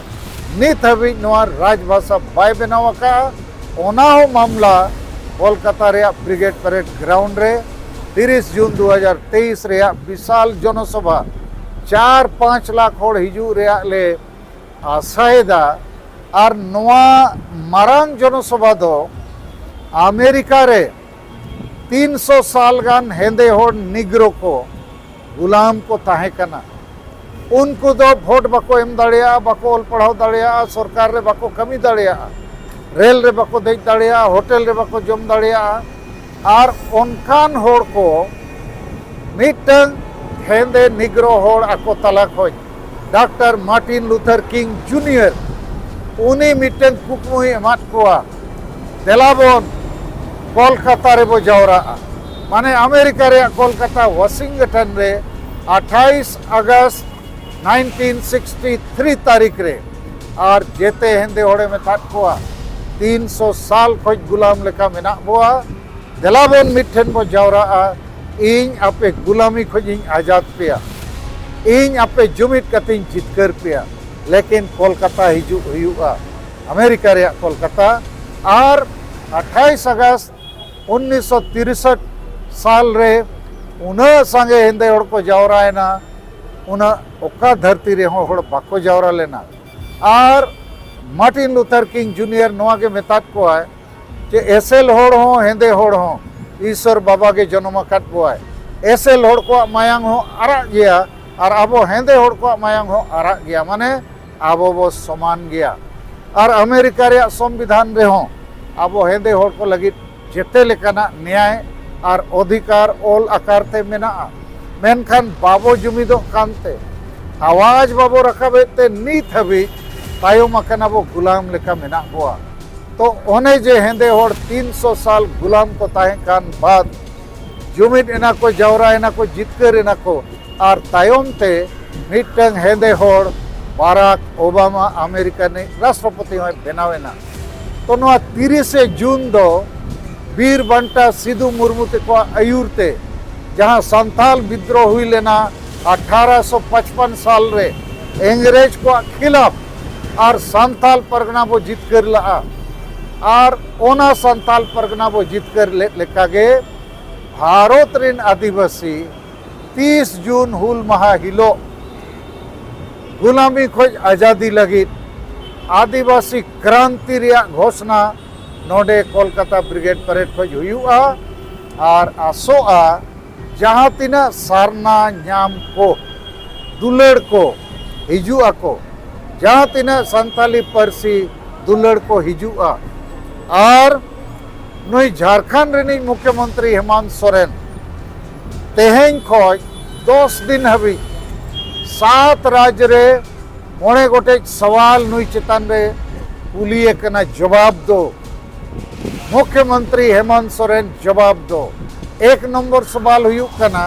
ᱱᱤᱛ ᱦᱟᱹᱵᱤᱡ ᱱᱚᱣᱟ ᱨᱟᱡᱽᱵᱷᱟᱥᱟ ᱵᱟᱭ ᱵᱮᱱᱟᱣ ᱟᱠᱟᱫᱼᱟ ᱚᱱᱟ ᱦᱚᱸ ᱢᱟᱢᱞᱟ ᱠᱚᱞᱠᱟᱛᱟ ᱨᱮᱭᱟᱜ ᱵᱨᱤᱜᱮᱰ ᱯᱮᱨᱮᱰ ᱜᱨᱟᱣᱩᱱᱰ ᱨᱮ ᱛᱤᱨᱤᱥ ᱡᱩᱱ ᱫᱩ ᱦᱟᱡᱟᱨ ᱛᱮᱭᱤᱥ ᱨᱮᱭᱟᱜ ᱵᱤᱥᱟᱞ ᱡᱚᱱᱚᱥᱚᱵᱷᱟ ᱪᱟᱨ ᱯᱟᱸᱪ ᱞᱟᱠᱷ ᱦᱚᱲ ᱦᱤᱡᱩᱜ ᱨᱮᱭᱟᱜ ᱞᱮ ᱟᱥᱟᱭᱮᱫᱟ ᱟᱨ ᱱᱚᱣᱟ ᱢᱟᱨᱟᱝ ᱡᱚᱱᱚᱥᱚᱵᱷᱟ ᱫᱚ ᱟᱢᱮᱨᱤᱠᱟ ᱨᱮ ᱛᱤᱱ ᱥᱚ ᱥᱟᱞ ᱜᱟᱱ ᱦᱮᱸᱫᱮ ᱦᱚᱲ ᱱᱤᱜᱽᱨᱳ ᱠᱚ ᱜᱩᱞᱟᱢ ᱠᱚ ᱛᱟᱦᱮᱸ ᱠᱟᱱᱟ ᱩᱱᱠᱩ ᱫᱚ ᱵᱷᱳᱴ ᱵᱟᱠᱚ ᱮᱢ ᱫᱟᱲᱮᱭᱟᱜᱼᱟ ᱵᱟᱠᱚ ᱚᱞ ᱯᱟᱲᱦᱟᱣ ᱫᱟᱲᱮᱭᱟᱜᱼᱟ ᱥᱚᱨᱠᱟᱨ ᱨᱮ ᱵᱟᱠᱚ ᱠᱟᱹᱢᱤ ᱫᱟᱲᱮᱭᱟᱜᱼᱟ ᱨᱮᱞ ᱨᱮ ᱵᱟᱠᱚ ᱫᱮᱡ ᱫᱟᱲᱮᱭᱟᱜᱼᱟ ᱦᱳᱴᱮᱞ ᱨᱮ ᱵᱟᱠᱚ ᱡᱚᱢ ᱫᱟᱲᱮᱭᱟᱜᱼᱟ ᱟᱨ ᱚᱱᱠᱟᱱ ᱦᱚᱲ ᱠᱚ ᱢᱤᱫᱴᱟᱝ ᱦᱮᱸᱫᱮ ᱱᱤᱜᱽᱨᱳ ᱦᱚᱲ ᱟᱠᱚ ᱛᱟᱞᱟ ᱠᱷᱚᱱ doctor Martin Luther King junior ᱩᱱᱤ ᱢᱤᱫᱴᱮᱱ ᱠᱩᱠᱢᱩᱭ ᱮᱢᱟᱫ ᱠᱚᱣᱟ ᱫᱮᱞᱟ ᱵᱚᱱ ᱠᱚᱞᱠᱟᱛᱟ ᱨᱮᱵᱚ ᱡᱟᱣᱨᱟᱜᱼᱟ ᱢᱟᱱᱮ ᱟᱢᱮᱨᱤᱠᱟ ᱨᱮᱭᱟᱜ ᱠᱚᱞᱠᱟᱛᱟ ᱣᱟᱥᱤᱝᱴᱚᱱ ᱨᱮ ᱟᱴᱷᱟᱭᱤᱥ ᱟᱜᱚᱥᱴ ᱱᱟᱭᱤᱱᱴᱤᱱ ᱥᱤᱠᱥᱴᱤ ᱛᱷᱨᱤ ᱛᱟᱹᱨᱤᱠᱷ ᱨᱮ ᱟᱨ ᱡᱮᱛᱮ ᱦᱮᱸᱫᱮ ᱦᱚᱲᱮ ᱢᱮᱛᱟᱫ ᱠᱚᱣᱟ ᱛᱤᱱ ᱥᱚ ᱥᱟᱞ ᱠᱷᱚᱱ ᱜᱩᱞᱟᱢ ᱞᱮᱠᱟ ᱢᱮᱱᱟᱜ ᱵᱚᱣᱟ ᱫᱮᱞᱟ ᱵᱚᱱ ᱢᱤᱫᱴᱷᱮᱱ ᱵᱚ ᱡᱟᱣᱨᱟᱜᱼᱟ ᱤᱧ ᱟᱯᱮ ᱜᱩᱞᱟᱢᱤ ᱠᱷᱚᱱ ᱤᱧ ᱟᱡᱟᱫ ᱯᱮᱭᱟ ᱤᱧ ᱟᱯᱮ ᱡᱩᱢᱤᱫ ᱠᱟᱛᱮᱧ ᱡᱤᱛᱠᱟᱹᱨ ᱯᱮᱭᱟ ᱞᱮᱠᱤᱱ ᱠᱚᱞᱠᱟᱛᱟ ᱦᱤᱡᱩᱜ ᱦᱩᱭᱩᱜᱼᱟ ᱟᱢᱮᱨᱤᱠᱟ ᱨᱮᱭᱟᱜ ᱠᱚᱞᱠᱟᱛᱟ ᱟᱨ ᱟᱴᱷᱟᱭᱤᱥ ᱟᱜᱚᱥᱴ ᱩᱱᱤᱥ ᱥᱚ ᱛᱤᱨᱥᱚᱴ ᱥᱟᱞ ᱨᱮ ᱩᱱᱟᱹᱜ ᱥᱟᱸᱜᱮ ᱦᱮᱸᱫᱮ ᱦᱚᱲ ᱠᱚ ᱡᱟᱣᱨᱟᱭᱮᱱᱟ ᱩᱱᱟᱹᱜ ᱚᱠᱟ ᱫᱷᱟᱹᱨᱛᱤ ᱨᱮᱦᱚᱸ ᱦᱚᱲ ᱵᱟᱠᱚ ᱡᱟᱣᱨᱟ ᱞᱮᱱᱟ ᱟᱨ ᱢᱟᱨᱴᱤᱱ ᱞᱩᱛᱷᱟᱨ ᱠᱤᱝ ᱡᱩᱱᱤᱭᱟᱨ ᱱᱚᱣᱟ ᱜᱮ ᱢᱮᱛᱟᱫ ᱠᱚᱣᱟᱭ ᱡᱮ ᱮᱥᱮᱞ ᱦᱚᱲ ᱦᱚᱸ ᱦᱮᱸᱫᱮ ᱦᱚᱲ ᱦᱚᱸ ᱤᱥᱚᱨ ᱵᱟᱵᱟ ᱜᱮ ᱡᱚᱱᱚᱢ ᱟᱠᱟᱫ ᱵᱚᱣᱟᱭ ᱮᱥᱮᱞ ᱦᱚᱲ ᱠᱚᱣᱟᱜ ᱢᱟᱭᱟᱝ ᱦᱚᱸ ᱟᱨᱟᱜ ᱜᱮᱭᱟ ᱟᱨ ᱟᱵᱚ ᱦᱮᱸᱫᱮ ᱦᱚᱲ ᱠᱚᱣᱟᱜ ᱢᱟᱭᱟᱝ ᱦᱚᱸ ᱟᱨᱟᱜ ᱜᱮᱭᱟ ᱢᱟᱱᱮ ᱟᱵᱚ ᱵᱚ ᱥᱚᱢᱟᱱ ᱜᱮᱭᱟ ᱟᱨ ᱟᱢᱮᱨᱤᱠᱟ ᱨᱮᱭᱟᱜ ᱥᱚᱝᱵᱤᱫᱷᱟᱱ ᱨᱮᱦᱚᱸ ᱟᱵᱚ ᱦᱮᱸᱫᱮ ᱦᱚᱲ ᱠᱚ ᱞᱟᱹᱜᱤᱫ ᱡᱮᱛᱮ ᱞᱮᱠᱟᱱᱟᱜ ᱱᱮᱭᱟᱭ ᱟᱨ ᱚᱫᱷᱤᱠᱟᱨ ᱚᱞ ᱟᱠᱟᱨ ᱛᱮ ᱢᱮᱱᱟᱜᱼᱟ ᱢᱮᱱᱠᱷᱟᱱ ᱵᱟᱵᱚ ᱡᱩᱢᱤᱫᱚᱜ ᱠᱟᱱᱛᱮ ᱟᱣᱟᱡᱽ ᱵᱟᱵᱚ ᱨᱟᱠᱟᱵᱮᱫ ᱛᱮ ᱱᱤᱛ ᱦᱟᱹᱵᱤᱡ ᱛᱟᱭᱚᱢ ᱟᱠᱟᱱᱟ ᱵᱚ ᱜᱩᱞᱟᱢ ᱞᱮᱠᱟ ᱢᱮᱱᱟᱜ ᱵᱚᱣᱟ ᱛᱚ ᱚᱱᱮ ᱡᱮ ᱦᱮᱸᱫᱮ ᱦᱚᱲ ᱛᱤᱱ ᱥᱚ ᱥᱟᱞ ᱜᱩᱞᱟᱢ ᱠᱚ ᱛᱟᱦᱮᱸ ᱠᱟᱱ ᱵᱟᱫ ᱡᱩᱢᱤᱫ ᱮᱱᱟ ᱠᱚ ᱡᱟᱣᱨᱟ ᱮᱱᱟ ᱠᱚ ᱡᱤᱛᱠᱟᱹᱨ ᱮᱱᱟ ᱠᱚ ᱟᱨ ᱛᱟᱭᱚᱢ ᱛᱮ ᱢᱤᱫᱴᱟᱝ ᱦᱮᱸᱫᱮ ᱦᱚᱲ ᱵᱟᱨᱟᱠ ᱳᱵᱟᱢᱟ ᱟᱢᱮᱨᱤᱠᱟ ᱨᱤᱱᱤᱡ ᱨᱟᱥᱴᱨᱚᱯᱚᱛᱤ ᱦᱚᱸᱭ ᱵᱮᱱᱟᱣ ᱮᱱᱟ ᱛᱚ ᱱᱚᱣᱟ ᱛᱤᱨᱤᱥᱮ ᱡᱩᱱ ᱫᱚ ᱵᱤᱨ ᱵᱟᱱᱴᱟ ᱥᱤᱫᱩ ᱢᱩᱨᱢᱩ ᱛᱮᱠᱚᱣᱟᱜ ᱟᱹᱭᱩᱨ ᱛᱮ ᱡᱟᱦᱟᱸ ᱥᱟᱱᱛᱟᱞ ᱵᱤᱫᱽᱫᱨᱳᱦ ᱦᱩᱭ ᱞᱮᱱᱟ ᱟᱴᱷᱟᱨᱚᱥᱚ ᱯᱟᱸᱪᱯᱟᱱ ᱥᱟᱞ ᱨᱮ ᱤᱝᱨᱮᱡᱽ ᱠᱚᱣᱟᱜ ᱠᱷᱤᱞᱟᱯ ᱟᱨ ᱥᱟᱱᱛᱟᱞ ᱯᱟᱨᱜᱟᱱᱟ ᱵᱚ ᱡᱤᱛᱠᱟᱹᱨ ᱞᱟᱜᱼᱟ ᱟᱨ ᱚᱱᱟ ᱥᱟᱱᱛᱟᱞ ᱯᱟᱨᱜᱟᱱᱟ ᱵᱚ ᱡᱤᱛᱠᱟᱹᱨ ᱞᱮᱫ ᱞᱮᱠᱟᱜᱮ ᱵᱷᱟᱨᱚᱛ ᱨᱮᱱ ᱟᱹᱫᱤᱵᱟᱹᱥᱤ ᱛᱤᱥ ᱡᱩᱱ ᱦᱩᱞ ᱢᱟᱦᱟ ᱦᱤᱞᱳᱜ ᱜᱩᱞᱟᱢᱤ ᱠᱷᱚᱡ ᱟᱡᱟᱫᱤ ᱞᱟᱹᱜᱤᱫ ᱟᱹᱫᱤᱵᱟᱹᱥᱤ ᱠᱨᱟᱱᱛᱤ ᱨᱮᱭᱟᱜ ᱜᱷᱳᱥᱱᱟ ᱱᱚᱰᱮ ᱠᱳᱞᱠᱟᱛᱟ ᱵᱨᱤᱜᱮᱰ ᱯᱮᱨᱮᱰ ᱠᱷᱚᱡ ᱦᱩᱭᱩᱜᱼᱟ ᱟᱨ ᱟᱥᱚᱜᱼᱟ ᱡᱟᱦᱟᱸ ᱛᱤᱱᱟᱹᱜ ᱥᱟᱨᱱᱟ ᱧᱟᱢ ᱠᱚ ᱫᱩᱞᱟᱹᱲ ᱠᱚ ᱦᱤᱡᱩᱜ ᱟᱠᱚ ᱡᱟᱦᱟᱸ ᱛᱤᱱᱟᱹᱜ ᱥᱟᱱᱛᱟᱞᱤ ᱯᱟᱹᱨᱥᱤ ᱫᱩᱞᱟᱹᱲ ᱠᱚ ᱦᱤᱡᱩᱜᱼᱟ ᱟᱨ ᱱᱩᱭ ᱡᱷᱟᱲᱠᱷᱚᱸᱰ ᱨᱤᱱᱤᱡ ᱢᱩᱠᱷᱭᱚᱢᱚᱱᱛᱨᱤ ᱦᱮᱢᱚᱱᱛ ᱥᱚᱨᱮᱱ ᱛᱮᱦᱮᱧ ᱠᱷᱚᱡ ᱫᱚᱥ ᱫᱤᱱ ᱦᱟᱹᱵᱤᱡ ᱥᱟᱛ ᱨᱟᱡᱽ ᱨᱮ ᱢᱚᱬᱮ ᱜᱚᱴᱮᱡ ᱥᱟᱣᱟᱞ ᱱᱩᱭ ᱪᱮᱛᱟᱱ ᱨᱮ ᱠᱩᱞᱤᱭᱮ ᱠᱟᱱᱟ ᱡᱚᱵᱟᱵ ᱫᱚ ᱢᱩᱠᱷᱭᱚᱢᱚᱱᱛᱨᱤ ᱦᱮᱢᱚᱱᱛ ᱥᱚᱨᱮᱱ ᱡᱚᱵᱟᱵ ᱫᱚ ᱮᱠ ᱱᱚᱢᱵᱚᱨ ᱥᱚᱵᱟᱞ ᱦᱩᱭᱩᱜ ᱠᱟᱱᱟ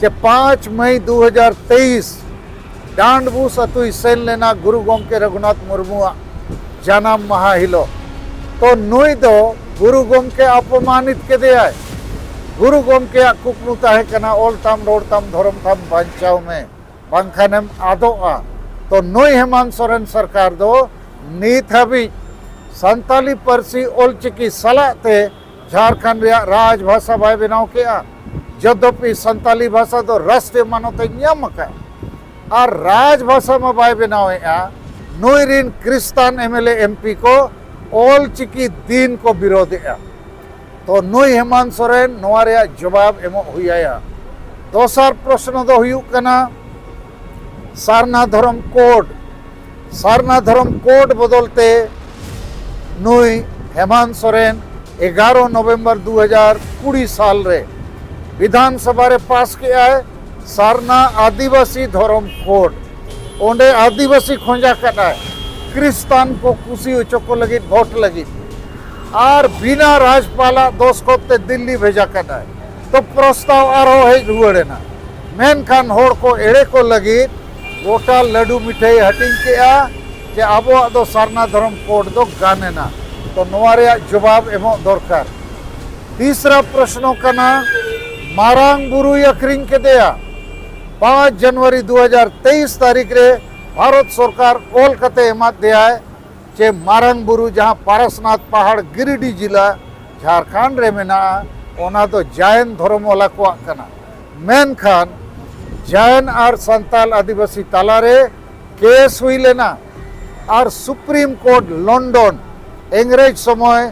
ᱡᱮ ᱯᱟᱸᱪ ᱢᱟᱹᱭ ᱫᱩ ᱦᱟᱡᱟᱨ ᱛᱮᱭᱤᱥ ᱰᱟᱸᱰᱵᱩᱥ ᱟᱛᱩᱭ ᱥᱮᱱ ᱞᱮᱱᱟ ᱜᱩᱨᱩ ᱜᱚᱢᱠᱮ ᱨᱚᱜᱷᱩᱱᱟᱛᱷ ᱢᱩᱨᱢᱩᱣᱟᱜ ᱡᱟᱱᱟᱢ ᱢᱟᱦᱟ ᱦᱤᱞᱳᱜ ᱛᱚ ᱱᱩᱭ ᱫᱚ ᱜᱩᱨᱩ ᱜᱚᱢᱠᱮ ᱟᱯᱚᱢᱟᱱᱤᱛ ᱠᱮᱫᱮᱭᱟᱭ ᱜᱩᱨᱩ ᱜᱚᱢᱠᱮᱭᱟᱜ ᱠᱩᱠᱢᱩ ᱛᱟᱦᱮᱸ ᱠᱟᱱᱟ ᱚᱞ ᱛᱟᱢ ᱨᱚᱲ ᱛᱟᱢ ᱫᱷᱚᱨᱚᱢ ᱛᱟᱢ ᱵᱟᱧᱪᱟᱣ ᱢᱮ ᱵᱟᱝᱠᱷᱟᱱᱮᱢ ᱟᱫᱚᱜᱼᱟ ᱛᱚ ᱱᱩᱭ ᱦᱮᱢᱟᱱ ᱥᱚᱨᱮᱱ ᱥᱚᱨᱠᱟᱨ ᱫᱚ ᱱᱤᱛ ᱦᱟᱹᱵᱤᱡ ᱥᱟᱱᱛᱟᱞᱤ ᱯᱟᱹᱨᱥᱤ ᱚᱞᱪᱤᱠᱤ ᱥᱟᱞᱟᱜ ᱛᱮ ᱡᱷᱟᱲᱠᱷᱚᱸᱰ ᱨᱮᱭᱟᱜ ᱨᱟᱡᱽ ᱵᱷᱟᱥᱟ ᱵᱟᱭ ᱵᱮᱱᱟᱣ ᱠᱮᱜᱼᱟ ᱡᱚᱫᱚᱯᱤ ᱥᱟᱱᱛᱟᱞᱤ ᱵᱷᱟᱥᱟ ᱫᱚ ᱨᱟᱥᱴᱨᱤᱭᱚ ᱢᱟᱱᱚᱛ ᱮ ᱧᱟᱢ ᱟᱠᱟᱫ ᱟᱨ ᱨᱟᱡᱽ ᱵᱷᱟᱥᱟ ᱢᱟ ᱵᱟᱭ ᱵᱮᱱᱟᱣᱮᱫᱼᱟ ᱱᱩᱭ ᱨᱤᱱ ᱠᱨᱤᱥᱛᱟᱱ ᱮᱢᱮᱞᱮ ᱮᱢᱯᱤ ᱠᱚ ᱚᱞᱪᱤᱠᱤ ᱫᱤᱱ ᱠᱚ ᱵᱤᱨᱳᱫᱮᱜᱼᱟ ᱛᱚ ᱱᱩᱭ ᱦᱮᱢᱟᱱ ᱥᱚᱨᱮᱱ ᱱᱚᱣᱟ ᱨᱮᱭᱟᱜ ᱡᱚᱵᱟᱵ ᱮᱢᱚᱜ ᱦᱩᱭ ᱟᱭᱟ ᱫᱚᱥᱟᱨ ᱯᱨᱚᱥᱱᱚ ᱫᱚ ᱦᱩᱭᱩᱜ ᱠᱟᱱᱟ ᱥᱟᱨᱱᱟ ᱫᱷᱚᱨᱚᱢ ᱠᱳᱰ ᱥᱟᱨᱱᱟ ᱫᱷᱚᱨᱚᱢ ᱠᱳᱰ ᱵᱚᱫᱚᱞ ᱛᱮ ᱱᱩᱭ ᱦᱮᱢᱟᱱ ᱥᱚᱨᱮᱱ ᱮᱜᱟᱨᱚ ᱱᱚᱵᱷᱮᱢᱵᱚᱨ ᱫᱩ ᱦᱟᱡᱟᱨ ᱠᱩᱲᱤ ᱥᱟᱞ ᱨᱮ ᱵᱤᱫᱷᱟᱱ ᱥᱚᱵᱷᱟ ᱨᱮ ᱯᱟᱥ ᱠᱮᱜᱼᱟᱭ ᱥᱟᱨᱱᱟ ᱟᱹᱫᱤᱵᱟᱹᱥᱤ ᱫᱷᱚᱨᱚᱢ ᱠᱳᱰ ᱚᱸᱰᱮ ᱟᱹᱫᱤᱵᱟᱹᱥᱤ ᱠᱷᱚᱸᱡᱟ ᱠᱟᱫᱟᱭ ᱠᱨᱤᱥᱛᱟᱱ ᱠᱚ ᱠᱩᱥᱤ ᱦᱚᱪᱚ ᱠᱚ ᱞᱟᱹᱜᱤᱫ ᱵᱷᱳᱴ ᱞᱟᱹᱜᱤᱫ ᱟᱨ ᱵᱤᱱᱟ ᱨᱟᱡᱽᱯᱟᱞᱟᱜ ᱫᱚᱥᱠᱚᱛ ᱛᱮ ᱫᱤᱞᱞᱤ ᱵᱷᱮᱡᱟ ᱠᱟᱫᱟᱭ ᱛᱚ ᱯᱨᱚᱥᱛᱟᱣ ᱟᱨᱦᱚᱸ ᱦᱮᱡ ᱨᱩᱣᱟᱹᱲ ᱮᱱᱟ ᱢᱮᱱᱠᱷᱟᱱ ᱦᱚᱲ ᱠᱚ ᱮᱲᱮ ᱠᱚ ᱞᱟᱹᱜᱤᱫ ᱜᱚᱴᱟ ᱞᱟᱹᱰᱩ ᱢᱤᱴᱷᱟᱹᱭ ᱦᱟᱹᱴᱤᱧ ᱠᱮᱜᱼᱟ ᱡᱮ ᱟᱵᱚᱣᱟᱜ ᱫᱚ ᱥᱟᱨᱱᱟ ᱫᱷᱚᱨᱚᱢ ᱠᱳᱰ ᱫᱚ ᱜᱟᱱ ᱮᱱᱟ ᱛᱚ ᱱᱚᱣᱟ ᱨᱮᱭᱟᱜ ᱡᱚᱵᱟᱵ ᱮᱢᱚᱜ ᱫᱚᱨᱠᱟᱨ ᱛᱤᱥᱨᱟ ᱯᱨᱚᱥᱱᱚ ᱠᱟᱱᱟ ᱢᱟᱨᱟᱝ ᱵᱩᱨᱩᱭ ᱟᱹᱠᱷᱨᱤᱧ ᱠᱮᱫᱮᱭᱟ ᱯᱟᱸᱪ ᱡᱟᱱᱩᱣᱟᱨᱤ ᱫᱩ ᱦᱟᱡᱟᱨ ᱛᱮᱭᱤᱥ ᱛᱟᱹᱨᱤᱠᱷ ᱨᱮ ᱵᱷᱟᱨᱚᱛ ᱥᱚᱨᱠᱟᱨ ᱚᱞ ᱠᱟᱛᱮ ᱮᱢᱟᱫ ᱫᱮᱭᱟᱭ ᱡᱮ ᱢᱟᱨᱟᱝ ᱵᱩᱨᱩ ᱡᱟᱦᱟᱸ ᱯᱟᱨᱟᱥᱱᱟᱛᱷ ᱯᱟᱦᱟᱲ ᱜᱤᱨᱤᱰᱤ ᱡᱮᱞᱟ ᱡᱷᱟᱲᱠᱷᱚᱸᱰ ᱨᱮ ᱢᱮᱱᱟᱜᱼᱟ ᱚᱱᱟ ᱫᱚ ᱡᱟᱭᱮᱱ ᱫᱷᱚᱨᱚᱢ ᱣᱟᱞᱟ ᱠᱚᱣᱟᱜ ᱠᱟᱱᱟ ᱢᱮᱱᱠᱷᱟᱱ ᱡᱟᱭᱮᱱ ᱟᱨ ᱥᱟᱱᱛᱟᱞ ᱟᱹᱫᱤᱵᱟᱹᱥᱤ ᱛᱟᱞᱟᱨᱮ ᱠᱮᱥ ᱦᱩᱭ ᱞᱮᱱᱟ ᱟᱨ ᱥᱩᱯᱨᱤᱢ ᱠᱳᱨᱴ ᱞᱚᱱᱰᱚᱱ ᱤᱝᱨᱮᱡᱽ ᱥᱚᱢᱚᱭ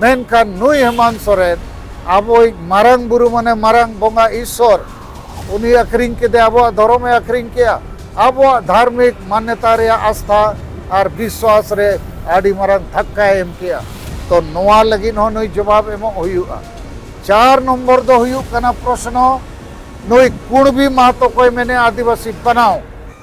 ᱢᱮᱱᱠᱷᱟᱱ ᱱᱩᱭ ᱦᱮᱢᱟᱱ ᱥᱚᱨᱮᱱ ᱟᱵᱚᱭᱤᱡ ᱢᱟᱨᱟᱝ ᱵᱩᱨᱩ ᱢᱟᱱᱮ ᱢᱟᱨᱟᱝ ᱵᱚᱸᱜᱟ ᱤᱥᱥᱚᱨ ᱩᱱᱤ ᱟᱹᱠᱷᱨᱤᱧ ᱠᱮᱫᱮ ᱟᱵᱚᱣᱟᱜ ᱫᱷᱚᱨᱚᱢᱮ ᱟᱹᱠᱷᱨᱤᱧ ᱠᱮᱜᱼᱟ ᱟᱵᱚᱣᱟᱜ ᱫᱷᱟᱨᱢᱤᱠ ᱢᱟᱱᱱᱮᱛᱟ ᱨᱮᱭᱟᱜ ᱟᱥᱛᱷᱟ ᱟᱨ ᱵᱤᱥᱣᱟᱥ ᱨᱮ ᱟᱹᱰᱤ ᱢᱟᱨᱟᱝ ᱫᱷᱟᱠᱠᱟᱭ ᱮᱢ ᱠᱮᱜᱼᱟ ᱛᱚ ᱱᱚᱣᱟ ᱞᱟᱹᱜᱤᱫ ᱦᱚᱸ ᱱᱩᱭ ᱡᱚᱵᱟᱵ ᱮᱢᱚᱜ ᱦᱩᱭᱩᱜᱼᱟ ᱪᱟᱨ ᱱᱚᱢᱵᱚᱨ ᱫᱚ ᱦᱩᱭᱩᱜ ᱠᱟᱱᱟ ᱯᱨᱚᱥᱱᱚ ᱱᱩᱭ ᱠᱩᱬᱵᱤ ᱢᱟᱦᱟᱛᱚ ᱠᱚᱭ ᱢᱮᱱᱮᱜᱼᱟ ᱟᱹᱫᱤᱵᱟᱹᱥᱤ ᱵᱮᱱᱟᱣ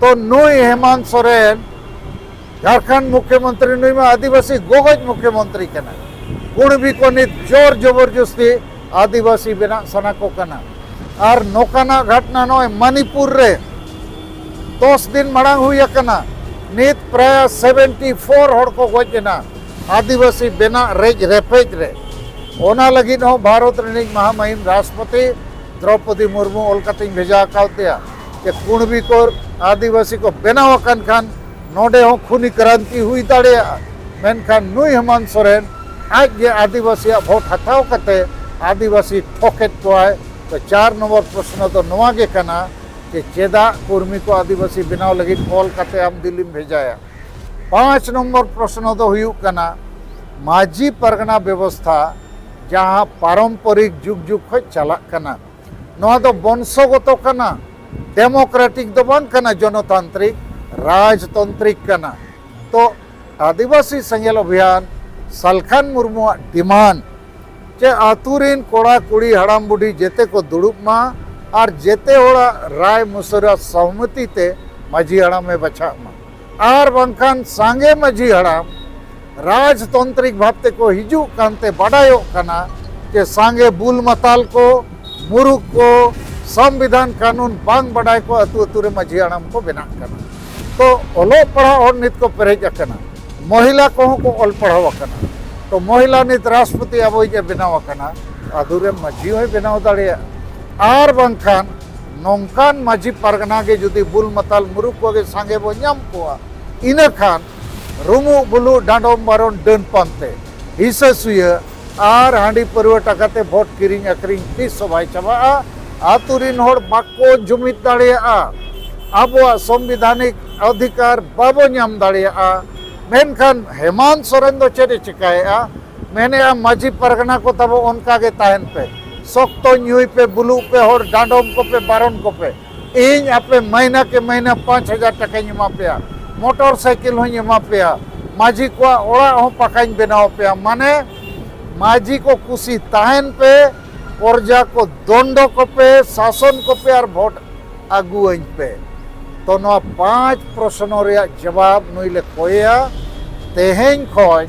ᱛᱚ ᱱᱩᱭ ᱦᱮᱢᱟᱱᱛ ᱥᱚᱨᱮᱱ ᱡᱷᱟᱲᱠᱷᱚᱸᱰ ᱢᱩᱠᱷᱭᱚᱢᱚᱱᱛᱨᱤ ᱱᱩᱭ ᱢᱟ ᱟᱹᱫᱤᱵᱟᱹᱥᱤ ᱜᱚᱜᱚᱡ ᱢᱩᱠᱷᱭᱚᱢᱚᱱᱛᱨᱤ ᱠᱟᱱᱟ ᱠᱩᱬᱵᱤ ᱠᱚ ᱱᱤᱛ ᱡᱳᱨ ᱡᱚᱵᱚᱨᱡᱚᱥᱛᱤ ᱟᱹᱫᱤᱵᱟᱹᱥᱤ ᱵᱮᱱᱟᱜ ᱥᱟᱱᱟ ᱠᱚ ᱠᱟᱱᱟ ᱟᱨ ᱱᱚᱝᱠᱟᱱᱟᱜ ᱜᱷᱚᱴᱱᱟ ᱱᱚᱜᱼᱚᱭ ᱢᱟᱱᱤᱯᱩᱨ ᱨᱮ ᱫᱚᱥ ᱫᱤᱱ ᱢᱟᱲᱟᱝ ᱦᱩᱭ ᱟᱠᱟᱱᱟ ᱱᱤᱛ ᱯᱨᱟᱭ ᱥᱮᱵᱷᱮᱱᱴᱤ ᱯᱷᱳᱨ ᱦᱚᱲ ᱠᱚ ᱜᱚᱡ ᱮᱱᱟ ᱟᱹᱫᱤᱵᱟᱹᱥᱤ ᱵᱮᱱᱟᱜ ᱨᱮᱡ ᱨᱮᱯᱮᱡ ᱨᱮ ᱚᱱᱟ ᱞᱟᱹᱜᱤᱫ ᱦᱚᱸ ᱵᱷᱟᱨᱚᱛ ᱨᱤᱱᱤᱡ ᱢᱟᱦᱟᱢᱟᱹᱦᱤᱢ ᱨᱟᱥᱴᱨᱚᱯᱚᱛᱤ ᱫᱨᱚᱯᱚᱫᱤ ᱢᱩᱨᱢᱩ ᱚᱞ ᱠᱟᱛᱮᱧ ᱵᱷᱮᱡᱟ ᱟᱠᱟᱣᱟᱫᱮᱭᱟ ᱡᱮ ᱠᱩᱬᱵᱤ ᱠᱚ ᱟᱹᱫᱤᱵᱟᱹᱥᱤ ᱠᱚ ᱵᱮᱱᱟᱣ ᱟᱠᱟᱱ ᱠᱷᱟᱱ ᱱᱚᱰᱮ ᱦᱚᱸ ᱠᱷᱩᱱᱤ ᱠᱨᱟᱱᱛᱤ ᱦᱩᱭ ᱫᱟᱲᱮᱭᱟᱜᱼᱟ ᱢᱮᱱᱠᱷᱟᱱ ᱱᱩᱭ ᱦᱮᱢᱟᱱ ᱥᱚᱨᱮᱱ ᱟᱡ ᱜᱮ ᱟᱹᱫᱤᱵᱟᱹᱥᱤᱭᱟᱜ ᱵᱷᱳᱴ ᱦᱟᱛᱟᱣ ᱠᱟᱛᱮ ᱟᱹᱫᱤᱵᱟᱹᱥᱤ ᱴᱷᱚᱠᱮᱫ ᱠᱚᱣᱟᱭ ᱛᱚ ᱪᱟᱨ ᱱᱚᱢᱵᱚᱨ ᱯᱨᱚᱥᱱᱚ ᱫᱚ ᱱᱚᱣᱟ ᱜᱮ ᱠᱟᱱᱟ ᱡᱮ ᱪᱮᱫᱟᱜ ᱠᱩᱨᱢᱤ ᱠᱚ ᱟᱹᱫᱤᱵᱟᱹᱥᱤ ᱵᱮᱱᱟᱣ ᱞᱟᱹᱜᱤᱫ ᱚᱞ ᱠᱟᱛᱮ ᱟᱢ ᱫᱤᱞᱤᱢ ᱵᱷᱮᱡᱟᱭᱟ ᱯᱟᱸᱪ ᱱᱚᱢᱵᱚᱨ ᱯᱨᱚᱥᱱᱚ ᱫᱚ ᱦᱩᱭᱩᱜ ᱠᱟᱱᱟ ᱢᱟᱹᱡᱷᱤ ᱯᱟᱨᱜᱟᱱᱟ ᱵᱮᱵᱚᱥᱛᱷᱟ ᱡᱟᱦᱟᱸ ᱯᱟᱨᱚᱢᱯᱚᱨᱤᱠ ᱡᱩᱜᱽ ᱡᱩᱜᱽ ᱠᱷᱚᱱ ᱪᱟᱞᱟᱜ ᱠᱟᱱᱟ ᱱᱚᱣᱟ ᱫᱚ ᱵᱚᱝᱥᱚᱜᱚᱛᱚ ᱠᱟᱱᱟ ᱰᱮᱢᱳᱠᱨᱮᱴᱤᱠ ᱫᱚ ᱵᱟᱝ ᱠᱟᱱᱟ ᱡᱚᱱᱚᱛᱟᱱᱛᱨᱤᱠ ᱨᱟᱡᱽᱛᱚᱱᱛᱨᱤᱠ ᱠᱟᱱᱟ ᱛᱚ ᱟᱹᱫᱤᱵᱟᱹᱥᱤ ᱥᱮᱸᱜᱮᱞ ᱚᱵᱷᱤᱭᱟᱱ ᱥᱟᱞᱠᱷᱟᱱ ᱢᱩᱨᱢᱩᱣᱟᱜ ᱰᱤᱢᱟᱱᱰ ᱡᱮ ᱟᱹᱛᱩ ᱨᱤᱱ ᱠᱚᱲᱟ ᱠᱩᱲᱤ ᱦᱟᱲᱟᱢ ᱵᱩᱰᱷᱤ ᱡᱮᱛᱮ ᱠᱚ ᱫᱩᱲᱩᱵ ᱢᱟ ᱟᱨ ᱡᱮᱛᱮ ᱦᱚᱲᱟᱜ ᱨᱟᱭ ᱢᱩᱥᱟᱹᱨᱟ ᱥᱚᱦᱢᱚᱛᱤ ᱛᱮ ᱢᱟᱹᱡᱷᱤ ᱦᱟᱲᱟᱢᱮ ᱵᱟᱪᱷᱟᱜ ᱢᱟ ᱟᱨ ᱵᱟᱝᱠᱷᱟᱱ ᱥᱟᱸᱜᱮ ᱢᱟᱹᱡᱷᱤ ᱦᱟᱲᱟᱢ ᱨᱟᱡᱽᱛᱚᱱᱛᱨᱤᱠ ᱵᱷᱟᱵᱽ ᱛᱮᱠᱚ ᱦᱤᱡᱩᱜ ᱠᱟᱱᱛᱮ ᱵᱟᱰᱟᱭᱚᱜ ᱠᱟᱱᱟ ᱡᱮ ᱥᱟᱸᱜᱮ ᱵᱩᱞ ᱢᱟᱛᱟᱞ ᱠᱚ ᱢᱩᱨᱩᱠ ᱠᱚ ᱥᱚᱝᱵᱤᱫᱷᱟᱱ ᱠᱟᱹᱱᱩᱱ ᱵᱟᱝ ᱵᱟᱰᱟᱭ ᱠᱚ ᱟᱹᱛᱩ ᱟᱹᱛᱩ ᱨᱮ ᱢᱟᱹᱡᱷᱤ ᱦᱟᱲᱟᱢ ᱠᱚ ᱵᱮᱱᱟᱜ ᱠᱟᱱᱟ ᱛᱚ ᱚᱞᱚᱜ ᱯᱟᱲᱦᱟᱣ ᱦᱚᱲ ᱱᱤᱛ ᱠᱚ ᱯᱮᱨᱮᱡ ᱟᱠᱟᱱᱟ ᱢᱚᱦᱤᱞᱟ ᱠᱚᱦᱚᱸ ᱠᱚ ᱚᱞ ᱯᱟᱲᱦᱟᱣ ᱟᱠᱟᱱᱟ ᱛᱚ ᱢᱚᱦᱤᱞᱟ ᱱᱤᱛ ᱨᱟᱥᱴᱨᱚᱯᱚᱛᱤ ᱟᱵᱚᱭᱤᱡ ᱮ ᱵᱮᱱᱟᱣ ᱟᱠᱟᱱᱟ ᱟᱹᱛᱩ ᱨᱮ ᱢᱟᱹᱡᱷᱤ ᱦᱚᱸᱭ ᱵᱮᱱᱟᱣ ᱫᱟᱲᱮᱭᱟᱜᱼᱟ ᱟᱨ ᱵᱟᱝᱠᱷᱟᱱ ᱱᱚᱝᱠᱟᱱ ᱢᱟᱹᱡᱷᱤ ᱯᱟᱨᱜᱟᱱᱟ ᱜᱮ ᱡᱩᱫᱤ ᱵᱩᱞ ᱢᱟᱛᱟᱞ ᱢᱩᱨᱩᱠ ᱠᱚᱜᱮ ᱥᱟᱸᱜᱮ ᱵᱚ ᱧᱟᱢ ᱠᱚᱣᱟ ᱤᱱᱟᱹ ᱠᱷᱟᱱ ᱨᱩᱢᱩᱜ ᱵᱩᱞᱩ ᱰᱟᱸᱰᱚᱢ ᱵᱟᱨᱚᱱ ᱰᱟᱹᱱ ᱯᱟᱱᱛᱮ ᱦᱤᱥᱟᱹ ᱥᱩᱭᱟᱹ ᱟᱨ ᱦᱟᱺᱰᱤ ᱯᱟᱹᱨᱣᱟᱹ ᱴᱟᱠᱟ ᱛᱮ ᱵᱷᱳᱴ ᱠᱤᱨᱤᱧ ᱟᱹᱠᱷᱨᱤᱧ ᱛᱤᱥ ᱦᱚᱸ ᱵᱟᱭ ᱪᱟᱵᱟᱜᱼᱟ ᱟᱛᱳ ᱨᱤᱱ ᱦᱚᱲ ᱵᱟᱠᱚ ᱡᱩᱢᱤᱫ ᱫᱟᱲᱮᱭᱟᱜᱼᱟ ᱟᱵᱚᱣᱟᱜ ᱥᱚᱝᱵᱤᱫᱷᱟᱱᱤᱠ ᱚᱫᱷᱤᱠᱟᱨ ᱵᱟᱵᱚ ᱧᱟᱢ ᱫᱟᱲᱮᱭᱟᱜᱼᱟ ᱢᱮᱱᱠᱷᱟᱱ ᱦᱮᱢᱟᱱᱛ ᱥᱚᱨᱮᱱ ᱫᱚ ᱪᱮᱫ ᱮ ᱪᱤᱠᱟᱹᱭᱮᱫᱼᱟ ᱢᱮᱱᱮᱜᱼᱟ ᱢᱟᱹᱡᱷᱤ ᱯᱟᱨᱜᱟᱱᱟ ᱠᱚ ᱛᱟᱵᱚ ᱚᱱᱠᱟ ᱜᱮ ᱛᱟᱦᱮᱱ ᱯᱮ ᱥᱚᱠᱛᱚ ᱧᱩᱭ ᱯᱮ ᱵᱩᱞᱩᱜ ᱯᱮ ᱦᱚᱲ ᱰᱟᱸᱰᱚᱢ ᱠᱚᱯᱮ ᱵᱟᱨᱚᱱ ᱠᱚᱯᱮ ᱤᱧ ᱟᱯᱮ ᱢᱟᱹᱦᱱᱟᱹ ᱠᱮ ᱢᱟᱹᱦᱱᱟᱹ ᱯᱟᱸᱪ ᱦᱟᱡᱟᱨ ᱴᱟᱠᱟᱧ ᱮᱢᱟ ᱯᱮᱭᱟ ᱢᱚᱴᱚᱨ ᱥᱟᱭᱠᱮᱞ ᱦᱚᱧ ᱮᱢᱟ ᱯᱮᱭᱟ ᱢᱟᱹᱡᱷᱤ ᱠᱚᱣᱟᱜ ᱚᱲᱟᱜ ᱦᱚᱸ ᱯᱟᱠᱟᱧ ᱵᱮᱱᱟᱣ ᱯᱮᱭᱟ ᱢᱟᱱᱮ ᱢᱟᱹᱡᱷᱤ ᱠᱚ ᱠᱩᱥᱤ ᱛᱟᱦᱮᱱ ᱯᱮ ᱯᱨᱚᱡᱟ ᱠᱚ ᱫᱚᱱᱰᱚ ᱠᱚᱯᱮ ᱥᱟᱥᱚᱱ ᱠᱚᱯᱮ ᱟᱨ ᱵᱷᱳᱴ ᱟᱹᱜᱩᱣᱟᱹᱧ ᱯᱮ ᱛᱚ ᱱᱚᱣᱟ ᱯᱟᱸᱪ ᱯᱨᱚᱥᱱᱚ ᱨᱮᱭᱟᱜ ᱡᱚᱵᱟᱵ ᱱᱩᱭ ᱞᱮ ᱠᱚᱭᱮᱭᱟ ᱛᱮᱦᱮᱧ ᱠᱷᱚᱱ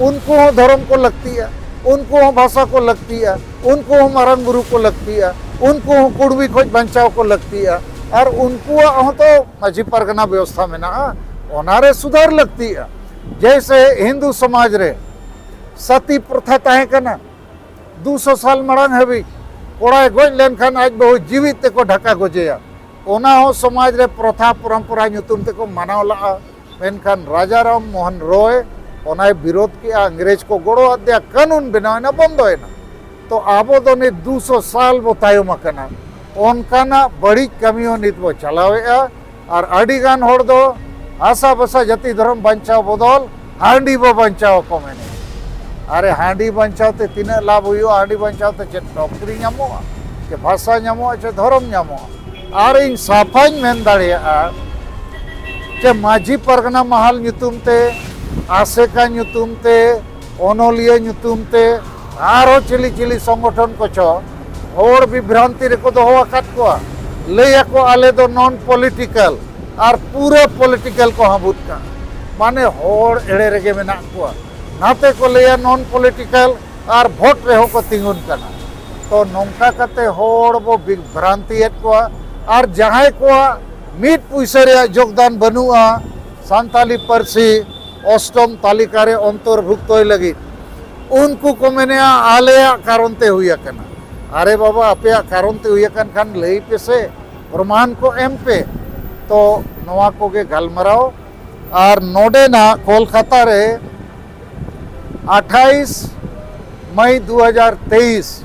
ᱩᱱᱠᱩ ᱦᱚᱸ ᱫᱷᱚᱨᱚᱢ ᱠᱚ ᱞᱟᱹᱠᱛᱤᱜᱼᱟ ᱩᱱᱠᱩ ᱦᱚᱸ ᱵᱷᱟᱥᱟ ᱠᱚ ᱞᱟᱹᱠᱛᱤᱜᱼᱟ ᱩᱱᱠᱩ ᱦᱚᱸ ᱢᱟᱨᱟᱝ ᱵᱩᱨᱩ ᱠᱚ ᱞᱟᱹᱠᱛᱤᱜᱼᱟ ᱩᱱᱠᱩ ᱦᱚᱸ ᱠᱩᱲᱢᱤ ᱠᱷᱚᱱ ᱵᱟᱧᱪᱟᱣ ᱠᱚ ᱞᱟᱹᱠᱛᱤᱜᱼᱟ ᱟᱨ ᱩᱱᱠᱩᱣᱟᱜ ᱦᱚᱸᱛᱚ ᱢᱟᱹᱡᱷᱤ ᱯᱟᱨᱜᱟᱱᱟ ᱵᱮᱵᱚᱥᱛᱷᱟ ᱢᱮᱱᱟᱜᱼᱟ ᱚᱱᱟᱨᱮ ᱥᱩᱫᱷᱟᱹᱨ ᱞᱟᱹᱠᱛᱤᱜᱼᱟ ᱡᱮᱭᱥᱮ ᱦᱤᱱᱫᱩ ᱥᱚᱢᱟᱡᱽ ᱨᱮ ᱥᱟᱛᱤ ᱯᱨᱚᱛᱷᱟ ᱛᱟᱦᱮᱸ ᱠᱟᱱᱟ ᱫᱩᱥᱚ ᱥᱟᱞ ᱢᱟᱲᱟᱝ ᱦᱟᱹᱵᱤᱡ ᱠᱚᱲᱟᱭ ᱜᱚᱡ ᱞᱮᱱᱠᱷᱟᱱ ᱟᱡ ᱵᱟᱹᱦᱩ ᱡᱤᱣᱤᱫ ᱛᱮᱠᱚ ᱰᱷᱟᱠᱟ ᱜᱚᱡᱮᱭᱟ ᱚᱱᱟ ᱦᱚᱸ ᱥᱚᱢᱟᱡᱽ ᱨᱮ ᱯᱨᱚᱛᱷᱟ ᱯᱚᱨᱚᱢᱯᱚᱨᱟ ᱧᱩᱛᱩᱢ ᱛᱮᱠᱚ ᱢᱟᱱᱟᱣ ᱞᱟᱜᱼᱟ ᱢᱮᱱᱠᱷᱟᱱ ᱨᱟᱡᱟ ᱨᱟᱢ ᱢᱳᱦᱚᱱ ᱨᱚᱭ ᱚᱱᱟᱭ ᱵᱤᱨᱳᱫ ᱠᱮᱜᱼᱟ ᱤᱝᱨᱮᱡᱽ ᱠᱚ ᱜᱚᱲᱚ ᱟᱫᱮᱭᱟ ᱠᱟᱹᱱᱩᱱ ᱵᱮᱱᱟᱣᱮᱱᱟ ᱵᱚᱱᱫᱚᱭᱮᱱᱟ ᱛᱚ ᱟᱵᱚ ᱫᱚ ᱱᱤᱛ ᱫᱩ ᱥᱚ ᱥᱟᱞ ᱵᱚ ᱛᱟᱭᱚᱢ ᱟᱠᱟᱱᱟ ᱚᱱᱠᱟᱱᱟᱜ ᱵᱟᱹᱲᱤᱡ ᱠᱟᱹᱢᱤ ᱦᱚᱸ ᱱᱤᱛ ᱵᱚ ᱪᱟᱞᱟᱣᱮᱜᱼᱟ ᱟᱨ ᱟᱹᱰᱤ ᱜᱟᱱ ᱦᱚᱲ ᱫᱚ ᱦᱟᱥᱟ ᱵᱷᱟᱥᱟ ᱡᱟᱹᱛᱤ ᱫᱷᱚᱨᱚᱢ ᱵᱟᱧᱪᱟᱣ ᱵᱚᱫᱚᱞ ᱦᱟᱺᱰᱤ ᱵᱚ ᱵᱟᱧᱪᱟᱣ ᱠᱚ ᱢᱮᱱᱮᱜᱼᱟ ᱟᱨᱮ ᱦᱟᱺᱰᱤ ᱵᱟᱧᱪᱟᱣ ᱛᱮ ᱛᱤᱱᱟᱹᱜ ᱞᱟᱵᱷ ᱦᱩᱭᱩᱜᱼᱟ ᱦᱟᱺᱰᱤ ᱵᱟᱧᱪᱟᱣ ᱛᱮ ᱪᱮᱫ ᱱᱚᱠᱨᱤ ᱧᱟᱢᱚᱜᱼᱟ ᱪᱮ ᱵᱷᱟᱥᱟ ᱧᱟᱢᱚᱜᱼᱟ ᱪᱮ ᱫᱷᱚᱨᱚᱢ ᱧᱟᱢᱚᱜᱼᱟ ᱟᱨ ᱤᱧ ᱥᱟᱯᱷᱟᱧ ᱢᱮᱱ ᱫᱟᱲᱮᱭᱟᱜᱼᱟ ᱡᱮ ᱢᱟᱹᱡᱷᱤ ᱯᱟᱨᱜᱟᱱᱟ ᱢᱟᱦᱟᱞ ᱧᱩᱛᱩᱢ ᱛᱮ ᱟᱥᱮᱠᱟ ᱧᱩᱛᱩᱢ ᱛᱮ ᱚᱱᱚᱞᱤᱭᱟᱹ ᱧᱩᱛᱩᱢ ᱛᱮ ᱟᱨᱦᱚᱸ ᱪᱤᱞᱤ ᱪᱤᱞᱤ ᱥᱚᱝᱜᱚᱴᱷᱚᱱ ᱠᱚᱪᱚ ᱦᱚᱲ ᱵᱤᱵᱷᱨᱟᱱᱛᱤ ᱨᱮᱠᱚ ᱫᱚᱦᱚ ᱟᱠᱟᱫ ᱠᱚᱣᱟ ᱞᱟᱹᱭ ᱟᱠᱚ ᱟᱞᱮ ᱫᱚ ᱱᱚᱱ ᱯᱚᱞᱤᱴᱤᱠᱟᱞ ᱟᱨ ᱯᱩᱨᱟᱹ ᱯᱚᱞᱤᱴᱤᱠᱟᱞ ᱠᱚ ᱦᱟᱹᱵᱩᱫ ᱠᱟᱜᱼᱟ ᱢᱟᱱᱮ ᱦᱚᱲ ᱮᱲᱮ ᱨᱮᱜᱮ ᱢᱮᱱᱟᱜ ᱠᱚᱣᱟ ᱱᱟᱛᱮ ᱠᱚ ᱞᱟᱹᱭᱟ ᱱᱚᱱ ᱯᱚᱞᱤᱴᱤᱠᱟᱞ ᱟᱨ ᱵᱷᱳᱴ ᱨᱮᱦᱚᱸ ᱠᱚ ᱛᱤᱸᱜᱩᱱ ᱠᱟᱱᱟ ᱛᱚ ᱱᱚᱝᱠᱟ ᱠᱟᱛᱮ ᱦᱚᱲ ᱵᱚ ᱵᱷᱨᱟᱱᱛᱤᱭᱮᱫ ᱠᱚᱣᱟ ᱟᱨ ᱡᱟᱦᱟᱸᱭ ᱠᱚᱣᱟᱜ ᱢᱤᱫ ᱯᱩᱭᱥᱟᱹ ᱨᱮᱭᱟᱜ ᱡᱳᱜᱽᱫᱟᱱ ᱵᱟᱹᱱᱩᱜᱼᱟ ᱥᱟᱱᱛᱟᱞᱤ ᱯᱟᱹᱨᱥᱤ ᱚᱥᱴᱚᱢ ᱛᱟᱹᱞᱤᱠᱟ ᱨᱮ ᱚᱱᱛᱚᱨᱵᱷᱩᱠᱛᱚᱭ ᱞᱟᱹᱜᱤᱫ ᱩᱱᱠᱩ ᱠᱚ ᱢᱮᱱᱮᱜᱼᱟ ᱟᱞᱮᱭᱟᱜ ᱠᱟᱨᱚᱱ ᱛᱮ ᱦᱩᱭ ᱟᱠᱟᱱᱟ ᱟᱨᱮ ᱵᱟᱵᱟ ᱟᱯᱮᱭᱟᱜ ᱠᱟᱨᱚᱱ ᱛᱮ ᱦᱩᱭ ᱟᱠᱟᱱ ᱠᱷᱟᱱ ᱞᱟᱹᱭ ᱯᱮᱥᱮ ᱯᱨᱚᱢᱟᱱ ᱠᱚ ᱮᱢ ᱯᱮ ᱛᱚ ᱱᱚᱣᱟ ᱠᱚᱜᱮ ᱜᱟᱞᱢᱟᱨᱟᱣ ᱟᱨ ᱱᱚᱰᱮᱱᱟᱜ ᱠᱳᱞᱠᱟᱛᱟ ᱨᱮ ᱟᱴᱷᱟᱭᱤᱥ ᱢᱟᱹᱭ ᱫᱩ ᱦᱟᱡᱟᱨ ᱛᱮᱭᱤᱥ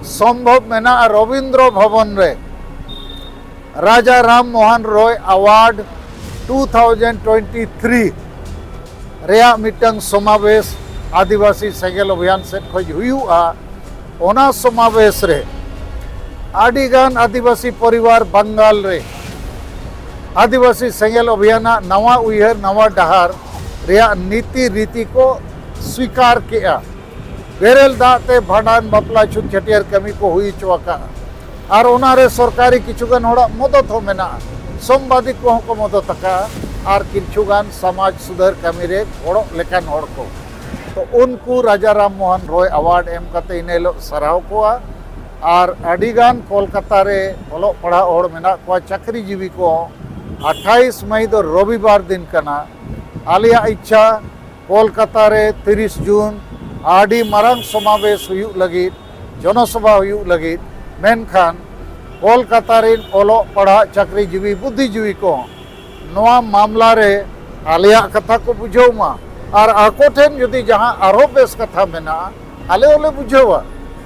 ᱥᱚᱢᱵᱷᱚᱵᱽ ᱢᱮᱱᱟᱜᱼᱟ ᱨᱚᱵᱤᱱᱫᱨᱚ ᱵᱷᱚᱵᱚᱱ ᱨᱮ Raja Ram Mohan Roy award two thousand twenty three ᱨᱮᱭᱟᱜ ᱢᱤᱫᱴᱟᱝ ᱥᱚᱢᱟᱵᱮᱥ ᱟᱹᱫᱤᱵᱟᱹᱥᱤ ᱥᱮᱸᱜᱮᱞ ᱚᱵᱷᱤᱭᱟᱱ ᱥᱮᱫ ᱠᱷᱚᱱ ᱦᱩᱭᱩᱜᱼᱟ ᱚᱱᱟ ᱥᱚᱢᱟᱵᱮᱥ ᱨᱮ ᱟᱹᱰᱤᱜᱟᱱ ᱟᱹᱫᱤᱵᱟᱹᱥᱤ ᱯᱚᱨᱤᱵᱟᱨ ᱵᱟᱝᱜᱟᱞ ᱨᱮ ᱟᱹᱫᱤᱵᱟᱹᱥᱤ ᱥᱮᱸᱜᱮᱞ ᱚᱵᱷᱤᱭᱟᱱᱟᱜ ᱱᱟᱣᱟ ᱩᱭᱦᱟᱹᱨ ᱱᱟᱣᱟ ᱰᱟᱦᱟᱨ ᱨᱮᱭᱟᱜ ᱱᱤᱛᱤ ᱨᱤᱛᱤ ᱠᱚ ᱥᱣᱤᱠᱟᱨ ᱠᱮᱜᱼᱟ ᱵᱮᱨᱮᱞ ᱫᱟᱜ ᱛᱮ ᱵᱷᱟᱸᱰᱟᱱ ᱵᱟᱯᱞᱟ ᱪᱷᱩᱛ ᱪᱷᱟᱹᱴᱭᱟᱹᱨ ᱠᱟᱹᱢᱤ ᱠᱚ ᱦᱩᱭ ᱦᱚᱪᱚ ᱟᱠᱟᱫᱼᱟ ᱟᱨ ᱚᱱᱟᱨᱮ ᱥᱚᱨᱠᱟᱨᱤ ᱠᱤᱪᱷᱩᱜᱟᱱ ᱦᱚᱲᱟᱜ ᱢᱚᱫᱚᱛ ᱦᱚᱸ ᱢᱮᱱᱟᱜᱼᱟ ᱥᱚᱢᱵᱟᱫᱤ ᱠᱚᱦᱚᱸ ᱠᱚ ᱢᱚᱫᱚᱛ ᱟᱠᱟᱫᱼᱟ ᱟᱨ ᱠᱤᱪᱷᱩᱜᱟᱱ ᱥᱚᱢᱟᱡᱽ ᱥᱩᱫᱷᱟᱹᱨ ᱠᱟᱹᱢᱤ ᱨᱮ ᱜᱚᱲᱚᱜ ᱞᱮᱠᱟᱱ ᱦᱚᱲ ᱠᱚ ᱛᱚ ᱩᱱᱠᱩ ᱨᱟᱡᱟ ᱨᱟᱢ ᱢᱳᱦᱚᱱ ᱨᱚᱭ ᱟᱣᱟᱨᱰ ᱮᱢ ᱠᱟᱛᱮ ᱤᱱᱟᱹ ᱦᱤᱞᱳᱜ ᱥᱟᱨᱦᱟᱣ ᱠᱚᱣᱟ ᱟᱨ ᱟᱹᱰᱤ ᱜᱟᱱ ᱠᱚᱞᱠᱟᱛᱟ ᱨᱮ ᱚᱞᱚᱜ ᱯᱟᱲᱦᱟᱜ ᱦᱚᱲ ᱢᱮᱱᱟᱜ ᱠᱚᱣᱟ ᱪᱟᱹᱠᱨᱤ ᱡᱤᱵᱤ ᱠᱚ ᱟᱴᱷᱟᱭᱤᱥ ᱢᱟᱹᱭ ᱫᱚ ᱨᱚᱵᱤᱵᱟᱨ ᱫᱤᱱ ᱠᱟᱱᱟ ᱟᱞᱮᱭᱟᱜ ᱤᱪᱪᱷᱟ ᱠᱚᱞᱠᱟᱛᱟ ᱨᱮ ᱛᱤᱨᱤᱥ ᱡᱩᱱ ᱟᱹᱰᱤ ᱢᱟᱨᱟᱝ ᱥᱚᱢᱟᱵᱮᱥ ᱦᱩᱭᱩᱜ ᱞᱟᱹᱜᱤᱫ ᱡᱚᱱᱚᱥᱚᱵᱷᱟ ᱦᱩᱭᱩᱜ ᱞᱟᱹᱜᱤᱫ ᱢᱮᱱᱠᱷᱟᱱ ᱠᱚᱞᱠᱟᱛᱟ ᱨᱮᱱ ᱚᱞᱚᱜ ᱯᱟᱲᱦᱟᱜ ᱪᱟᱹᱠᱨᱤ ᱡᱤᱵᱤ ᱵᱩᱫᱽᱫᱷᱤ ᱡᱤᱵᱤ ᱠᱚ ᱱᱚᱣᱟ ᱢᱟᱢᱞᱟ ᱨᱮ ᱟᱞᱮᱭᱟᱜ ᱠᱟᱛᱷᱟ ᱠᱚ ᱵᱩᱡᱷᱟᱹᱣ ᱢᱟ ᱟᱨ ᱟᱠᱚ ᱴᱷᱮᱱ ᱡᱩᱫᱤ ᱡᱟᱦᱟᱸ ᱟᱨᱦᱚᱸ ᱵᱮᱥ ᱠᱟᱛᱷᱟ ᱢᱮᱱᱟᱜᱼᱟ ᱟᱞᱮ ᱦᱚᱸᱞᱮ ᱵᱩᱡᱷᱟᱹᱣᱟ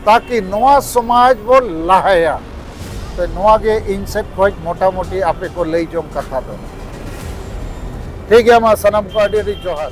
ᱛᱟᱠᱤ ᱱᱚᱣᱟ ᱥᱚᱢᱟᱡᱽ ᱵᱚ ᱞᱟᱦᱟᱭᱟ ᱛᱚ ᱱᱚᱣᱟ ᱜᱮ ᱤᱧ ᱥᱮᱫ ᱠᱷᱚᱱ ᱢᱚᱴᱟᱢᱩᱴᱤ ᱟᱯᱮ ᱠᱚ ᱞᱟᱹᱭ ᱡᱚᱝ ᱠᱟᱛᱷᱟ ᱫᱚ ᱴᱷᱤᱠ ᱜᱮᱭᱟ ᱢᱟ ᱥᱟᱱᱟᱢ ᱠᱚ ᱟᱹᱰᱤ ᱟᱹᱰᱤ ᱡᱚᱦᱟᱨ